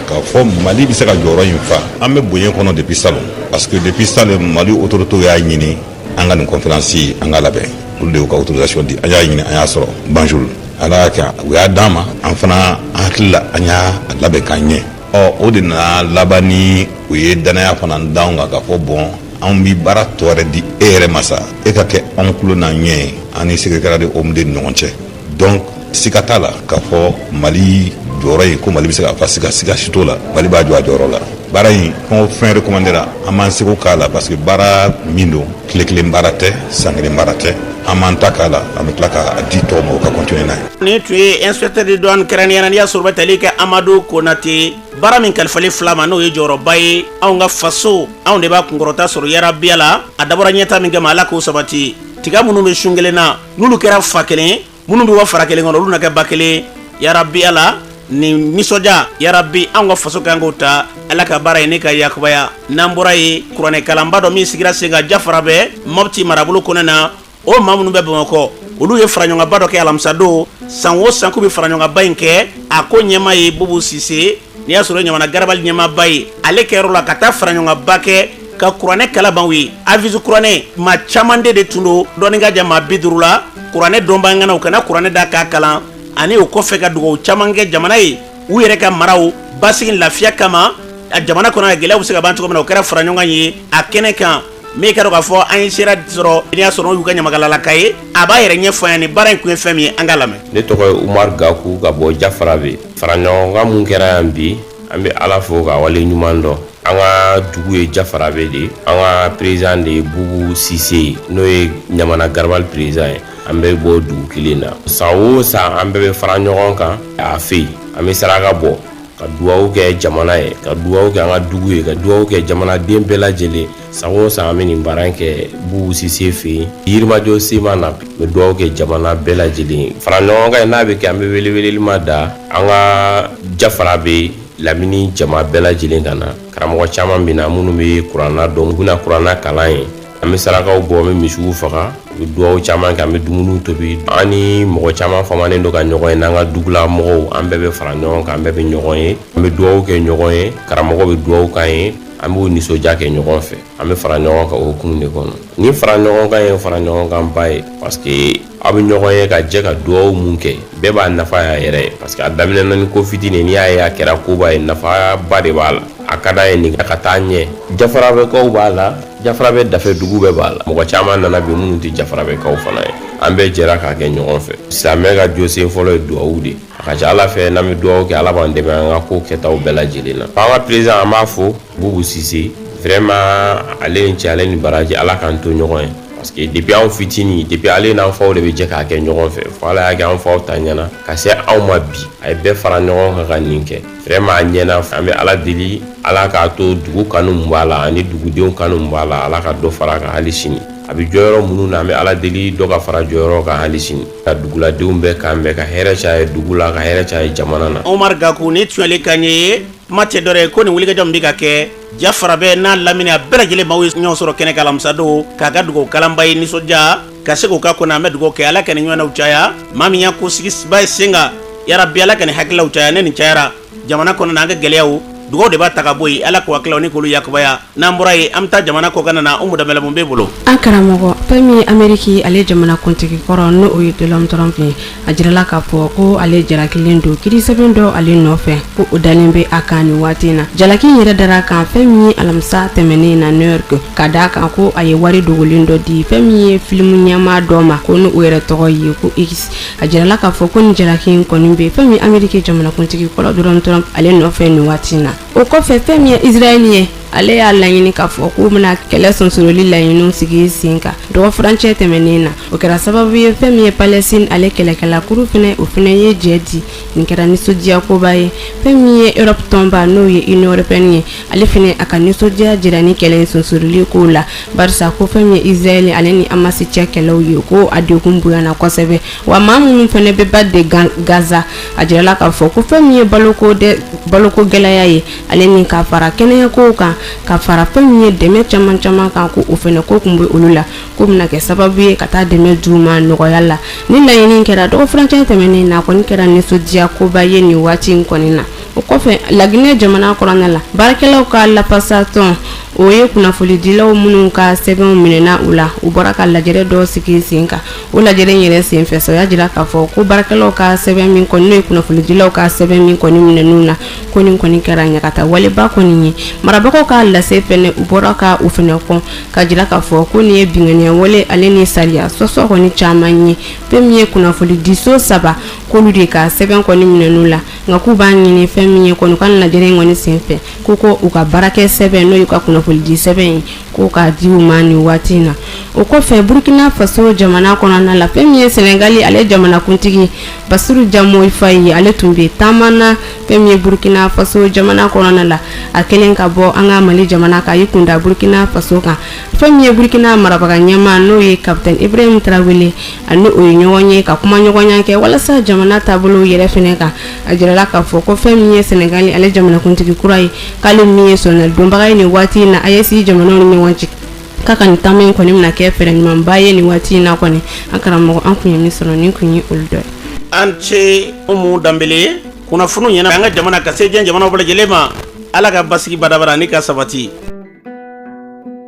[SPEAKER 20] k'a fɔ mali bɛ se ka jɔyɔrɔ in fa an bɛ bonya kɔnɔ depuis salon parce que depuis salon mali autorités y'a ɲini an ka nin conférence an k'a labɛn olu de y'u ka autorisation di an y'a ɲini an y'a sɔrɔ banjul ala y'a kɛ u y'a d'an ma an fana an hakilila an y'a labɛn k'a ɲɛ ɔ o de nana laban ni u ye danaya fana d'anw kan k'a fɔ bɔn anw bɛ baara dɔ wɛrɛ di e yɛrɛ ma sa e ka kɛ anw tulo n'an ɲɛ ye an ni secrétariat de omd ni ɲɔgɔn cɛ donc siga t'a la k'a fɔ mali jɔyɔrɔ in ko mali bɛ se k'a fa siga siga si t'o la mali b'a jɔ a jɔyɔrɔ la baara in fɛn o fɛn recommandéra an b'an seko k'a la parce que baara min don tile kelen baara tɛ san kelen baara tɛ an b'an ta k'a la an bɛ tila k'a di tɔw ma u ka continuer n'a ye nin tun ye
[SPEAKER 3] inspecteur de douane kɛrɛnnenya n'i y'a sɔrɔ o bɛ tali kɛ amadu konate baara min kalifalen filɛ a ma n'o ye jɔyɔrɔba ye anw ka faso anw de b'a kunkɔrɔta sɔrɔ yarabi ala a dabɔra ɲɛta min kama ala k'o sabati tiga minnu bɛ sun kelen na n'olu kɛra fa kelen minnu bɛ a fara kelen kɔnɔ olu na kɛ ba kelen yarabi ala ni nisɔndiya yarabi an ka faso kan ko ta ala ka baara ye ne ka yakubaya n'an bɔra yen kuranɛkalanba dɔ min sigira sen kan jafarabɛ mɔti marabolo kɔnɔna o maa minnu bɛ bamakɔ olu ye faraɲɔgɔnba dɔ kɛ alamisadon san o san k'u bɛ faraɲɔgɔnba in kɛ a ko ɲɛmaa ye bubu sise n'i y'a sɔrɔ ɲamana garabali ɲɛmaaba ye ale ka yɔrɔ la ka taa faraɲɔgɔnba kɛ ka kuranɛ kalanbaw ye hafiz kuranɛ maa caman de tun don dɔɔnin k'a jɛ maa bi duuru la kuranɛ dɔnbaa ŋanaw ka na kuranɛ da k'a kalan ani o kɔfɛ ka dugawu caman kɛ jamana ye u yɛrɛ ka maraw basigi lafiya kama a jamana kɔnɔ gɛlɛya bɛ se ka ban cogo min na o kɛra fara ɲɔgɔn ye a kɛnɛ kan min k'a dɔn k'a fɔ an ye sera sɔrɔ n'i y'a sɔrɔ y'u ka ɲamakalalaka ye a b'a yɛrɛ ɲɛfɔ yan ni baara in kun ye fɛn min ye an k'a lamɛn ne tɔgɔ ye umaru
[SPEAKER 21] gaku ka bɔ jafarabɛ faraɲɔgɔnkan min kɛra yan bi an bɛ ala fo k'a waleɲumandɔn an ka dugu ye jafarabɛ de an ka président de ye bubu sise n'o ye ɲamana garabali président ye an bɛ bɔ dugu kelen na san o san an bɛɛ bɛ fara ɲɔgɔn kan a fɛ yen an bɛ saraka bɔ ka dugawu kɛ jamana ye ka dugawu kɛ an ka dugu ye ka dugawu kɛ jamanaden bɛɛ lajɛlen san o san an bɛ nin baara in kɛ bubu sise fɛ yen yirimajɔ sema an bɛ dugawu kɛ jamana bɛɛ lajɛlen fara ɲɔgɔn kan n'a bɛ kɛ an bɛ weleweleli ma da an ka jafarabɛ lamini jama bɛɛ lajɛlen ka na karamɔgɔ caman bɛ na minnu bɛ kurana dɔn u bɛ na kurana kalan an ye an bɛ sarakaw bɔ an bɛ misiw faga u bɛ dugawu caman kɛ an bɛ dumuniw tobi an ni mɔgɔ caman famanen don ka ɲɔgɔn ye n'an ka dugula mɔgɔw an bɛɛ bɛ fara ɲɔgɔn kan an bɛɛ bɛ ɲɔgɔn ye an bɛ dugawu kɛ ɲɔgɔn ye karamɔgɔ bɛ dugawu k'an ye an b'o nisɔndiya kɛ ɲɔgɔn fɛ an bɛ fara ɲɔgɔn kan o hukumu de kɔnɔ ni fara ɲɔgɔn kan ye fara ɲɔgɔn kan ba ye parce que aw bɛ ɲɔgɔn ye ka jɛ ka dugawu min kɛ bɛɛ b'a nafa y'a yɛrɛ ye parce que a daminɛna ni ko fitinin n'i y'a ye a kɛra koba ye nafaba de b'a la a ka d'a ye nin ka taa ɲɛ jafarabɛkaw b'a la jafarabɛ dafɛ dugu bɛɛ b'a la mɔgɔ caman nana bi minnu tɛ jafarabɛkaw fana ye an bɛɛ jɛra k'a kɛ ɲɔgɔn fɛ silamɛ ka jɔsen fɔlɔ ye dugawu de ye a ka ca ala fɛ n'an bɛ dugawu kɛ ala b'an dɛmɛ an ka ko kɛtaw bɛɛ lajɛlen na an ka président an b'a fo bubu sise vraiment ale ni ce ale ni baraji ala k'an to ɲɔgɔn ye parce que depuis anw fitini depuis ale n'an faw de bɛ jɛ k'a kɛ ɲɔgɔn fɛ fo ala y'a kɛ an faw ta ɲɛna ka se anw ma bi a ye bɛɛ fara ɲɔgɔn kan ka nin kɛ vraiment a ɲɛna an bɛ ala deli ala k'a to dugu kanu min b'a la ani dugudenw kanu min b'a la ala ka dɔ fara a kan hali sini a bɛ jɔyɔrɔ minnu na an bɛ ala deli dɔ ka fara jɔyɔrɔ kan hali sini ka duguladenw bɛɛ kan bɛn ka hɛrɛ caya dugu la ka hɛrɛ caya jamana na Umaru Gaku nin tun
[SPEAKER 3] y'ale kan ye kuma tɛ dɔ wɛrɛ ye ko nin wulikajɔ min bɛ ka kɛ Jafarabɛ n'a lamini a bɛɛ lajɛlen maaw ye ɲɔgɔn sɔrɔ kɛnɛ kan alamisa don k'a ka dugawu kalanba ye nisɔndiya ka se k'o ka kɔnɔ an bɛ dugawu kɛ Ala ka nin ɲɔgɔnnaw caya maa min y'a ko sigibaa ye sen kan yarabi Ala ka nin hakililaw caya ni nin cayara jamana kɔnɔ na an ka gɛlɛyaw dugawu de b'a ta ka bɔ yen ala ka hakililaw ni k'olu yakubaya n'an bɔra yen an bɛ taa jamana kɔkanna na umu danbɛlɛ mun b'e bolo an karamɔgɔ
[SPEAKER 22] fɛn min ye ameriki ale jamanakuntigi kɔrɔ n'o ye donald trump ye a jirala k'a fɔ ko ale jalakilen don kiiri sɛbɛn dɔ ale nɔfɛ ko o dalen bɛ a kan nin waati na jalaki yɛrɛ dara kan fɛn min ye alamisa tɛmɛnen na new york ka d' a kan ko a ye wari dogolen dɔ di fɛn min ye filimu ɲɛmaa dɔ ma ko n' o yɛrɛ tɔgɔ ye ko a jirala k'a fɔ ko nin jalaki in kɔni bɛ fɛn min ameriki jamanakuntigi kɔrɔ donald trump ale nɔfɛ nin waati in na o kɔfɛ fɛn min ye israɛl ye ale y'a laɲini k'a fɔ k'u bɛna kɛlɛ sonsoroli laɲiniw sigi sen kan dɔgɔ furancɛ tɛmɛnen na o kɛra sababu ye fɛn min ye palestine ale kɛlɛkɛla kuru fɛnɛ o fɛnɛ ye jɛ di nin kɛra nisɔndiyakoba ye fɛn min ye europe tɔnba n'o ye union européenne ye ale fɛnɛ a ka nisɔndiya jira ni kɛlɛ sonsoroli kow la barisa ko fɛn min ye israɛl ale ni amasi cɛ kɛlɛw ye ko a degun bonyana kosɛbɛ wa maa minnu fɛnɛ bɛ bande gaza a jirala k'a fɔ ko fɛn min ye baloko gɛlɛya ye ale ni ka fara kɛnɛyakow kan ka fara fɛn min ye dɛmɛ caman caman kan ko o fɛnɛ ko kun bɛ olu la ko bɛna kɛ sababu ye ka taa dɛmɛ d'u ma nɔgɔya la nin laɲini kɛra dɔgɔfurancɛ tɛmɛnen na kɔni kɛra nisɔndiyakoba ye nin waati in kɔni na o kɔfɛ laginɛ jamana kɔnɔna la baarakɛlaw ka lafasatɔn o ye kunnafonidilaw minnu ka sɛbɛnw minɛna u la u bɔra ka lajɛrɛ dɔ sigi sen kan o lajɛ in yɛrɛ senfɛ sa u y'a jira k'a fɔ ko baarakɛlaw ka sɛbɛn min kɔni n'o ye kunnafonidilaw ka sɛbɛn min kɔni minɛn'u na ko nin kɔni kɛra ɲangata waleba kɔni ye marabagaw ka lase fɛnɛ u bɔra ka u fɛnɛ kɔn ka jira k'a fɔ ko nin ye binkanniya wale ale ni sariya sɔsɔ kɔni caman ye fɛn min ye kunnafonidiso saba k'olu de ka sɛbɛn kɔni minɛn'u la nka k'u b'a ɲini fɛn min ye kɔni u ka lajɛrɛ in kɔni senfɛ ko ko u ka baarakɛ sɛbɛn n'o y'u ka kunnafonidi sɛbɛn ye k'o ka di u ma nin waati in na o kɔfɛ burkina faso jamana kɔnɔna la fɛn min ye sɛnɛgali ale jamanakuntigi basiru jomayi fayi ale tun bɛ taama na fɛn min ye burkina faso jamana kɔnɔna la a kɛlen ka bɔ an ka mali jamana kan y'i kunda burkina faso kan fɛn min ye burukina marabaga ɲɛmaa n'o ye kapitɛni ibrahim tarawele a ni o ye ɲɔgɔn ye ka kumaɲɔgɔnya kɛ walasa jamana taabolo yɛrɛ fɛnɛ kan a jirala k'a fɔ ko fɛn min ye sɛnɛgali ale jamanakuntigi kura ye k'ale min ye sɔnna donbaga ye nin waati in na AES jamanaw ni ɲɔgɔn cɛ k'a ka nin taama in kɔni bɛna kɛ fɛɛrɛ ɲumanba ye nin waati in na kɔni an karamɔgɔ an tun ye min sɔrɔ nin tun ye olu dɔ ye an
[SPEAKER 3] ce umu danbele ye kunnafoni ɲɛna an ka jamana ka se diɲɛ jamana bɛɛ lajɛlen ma ala ka basigi badabada ni ka sabati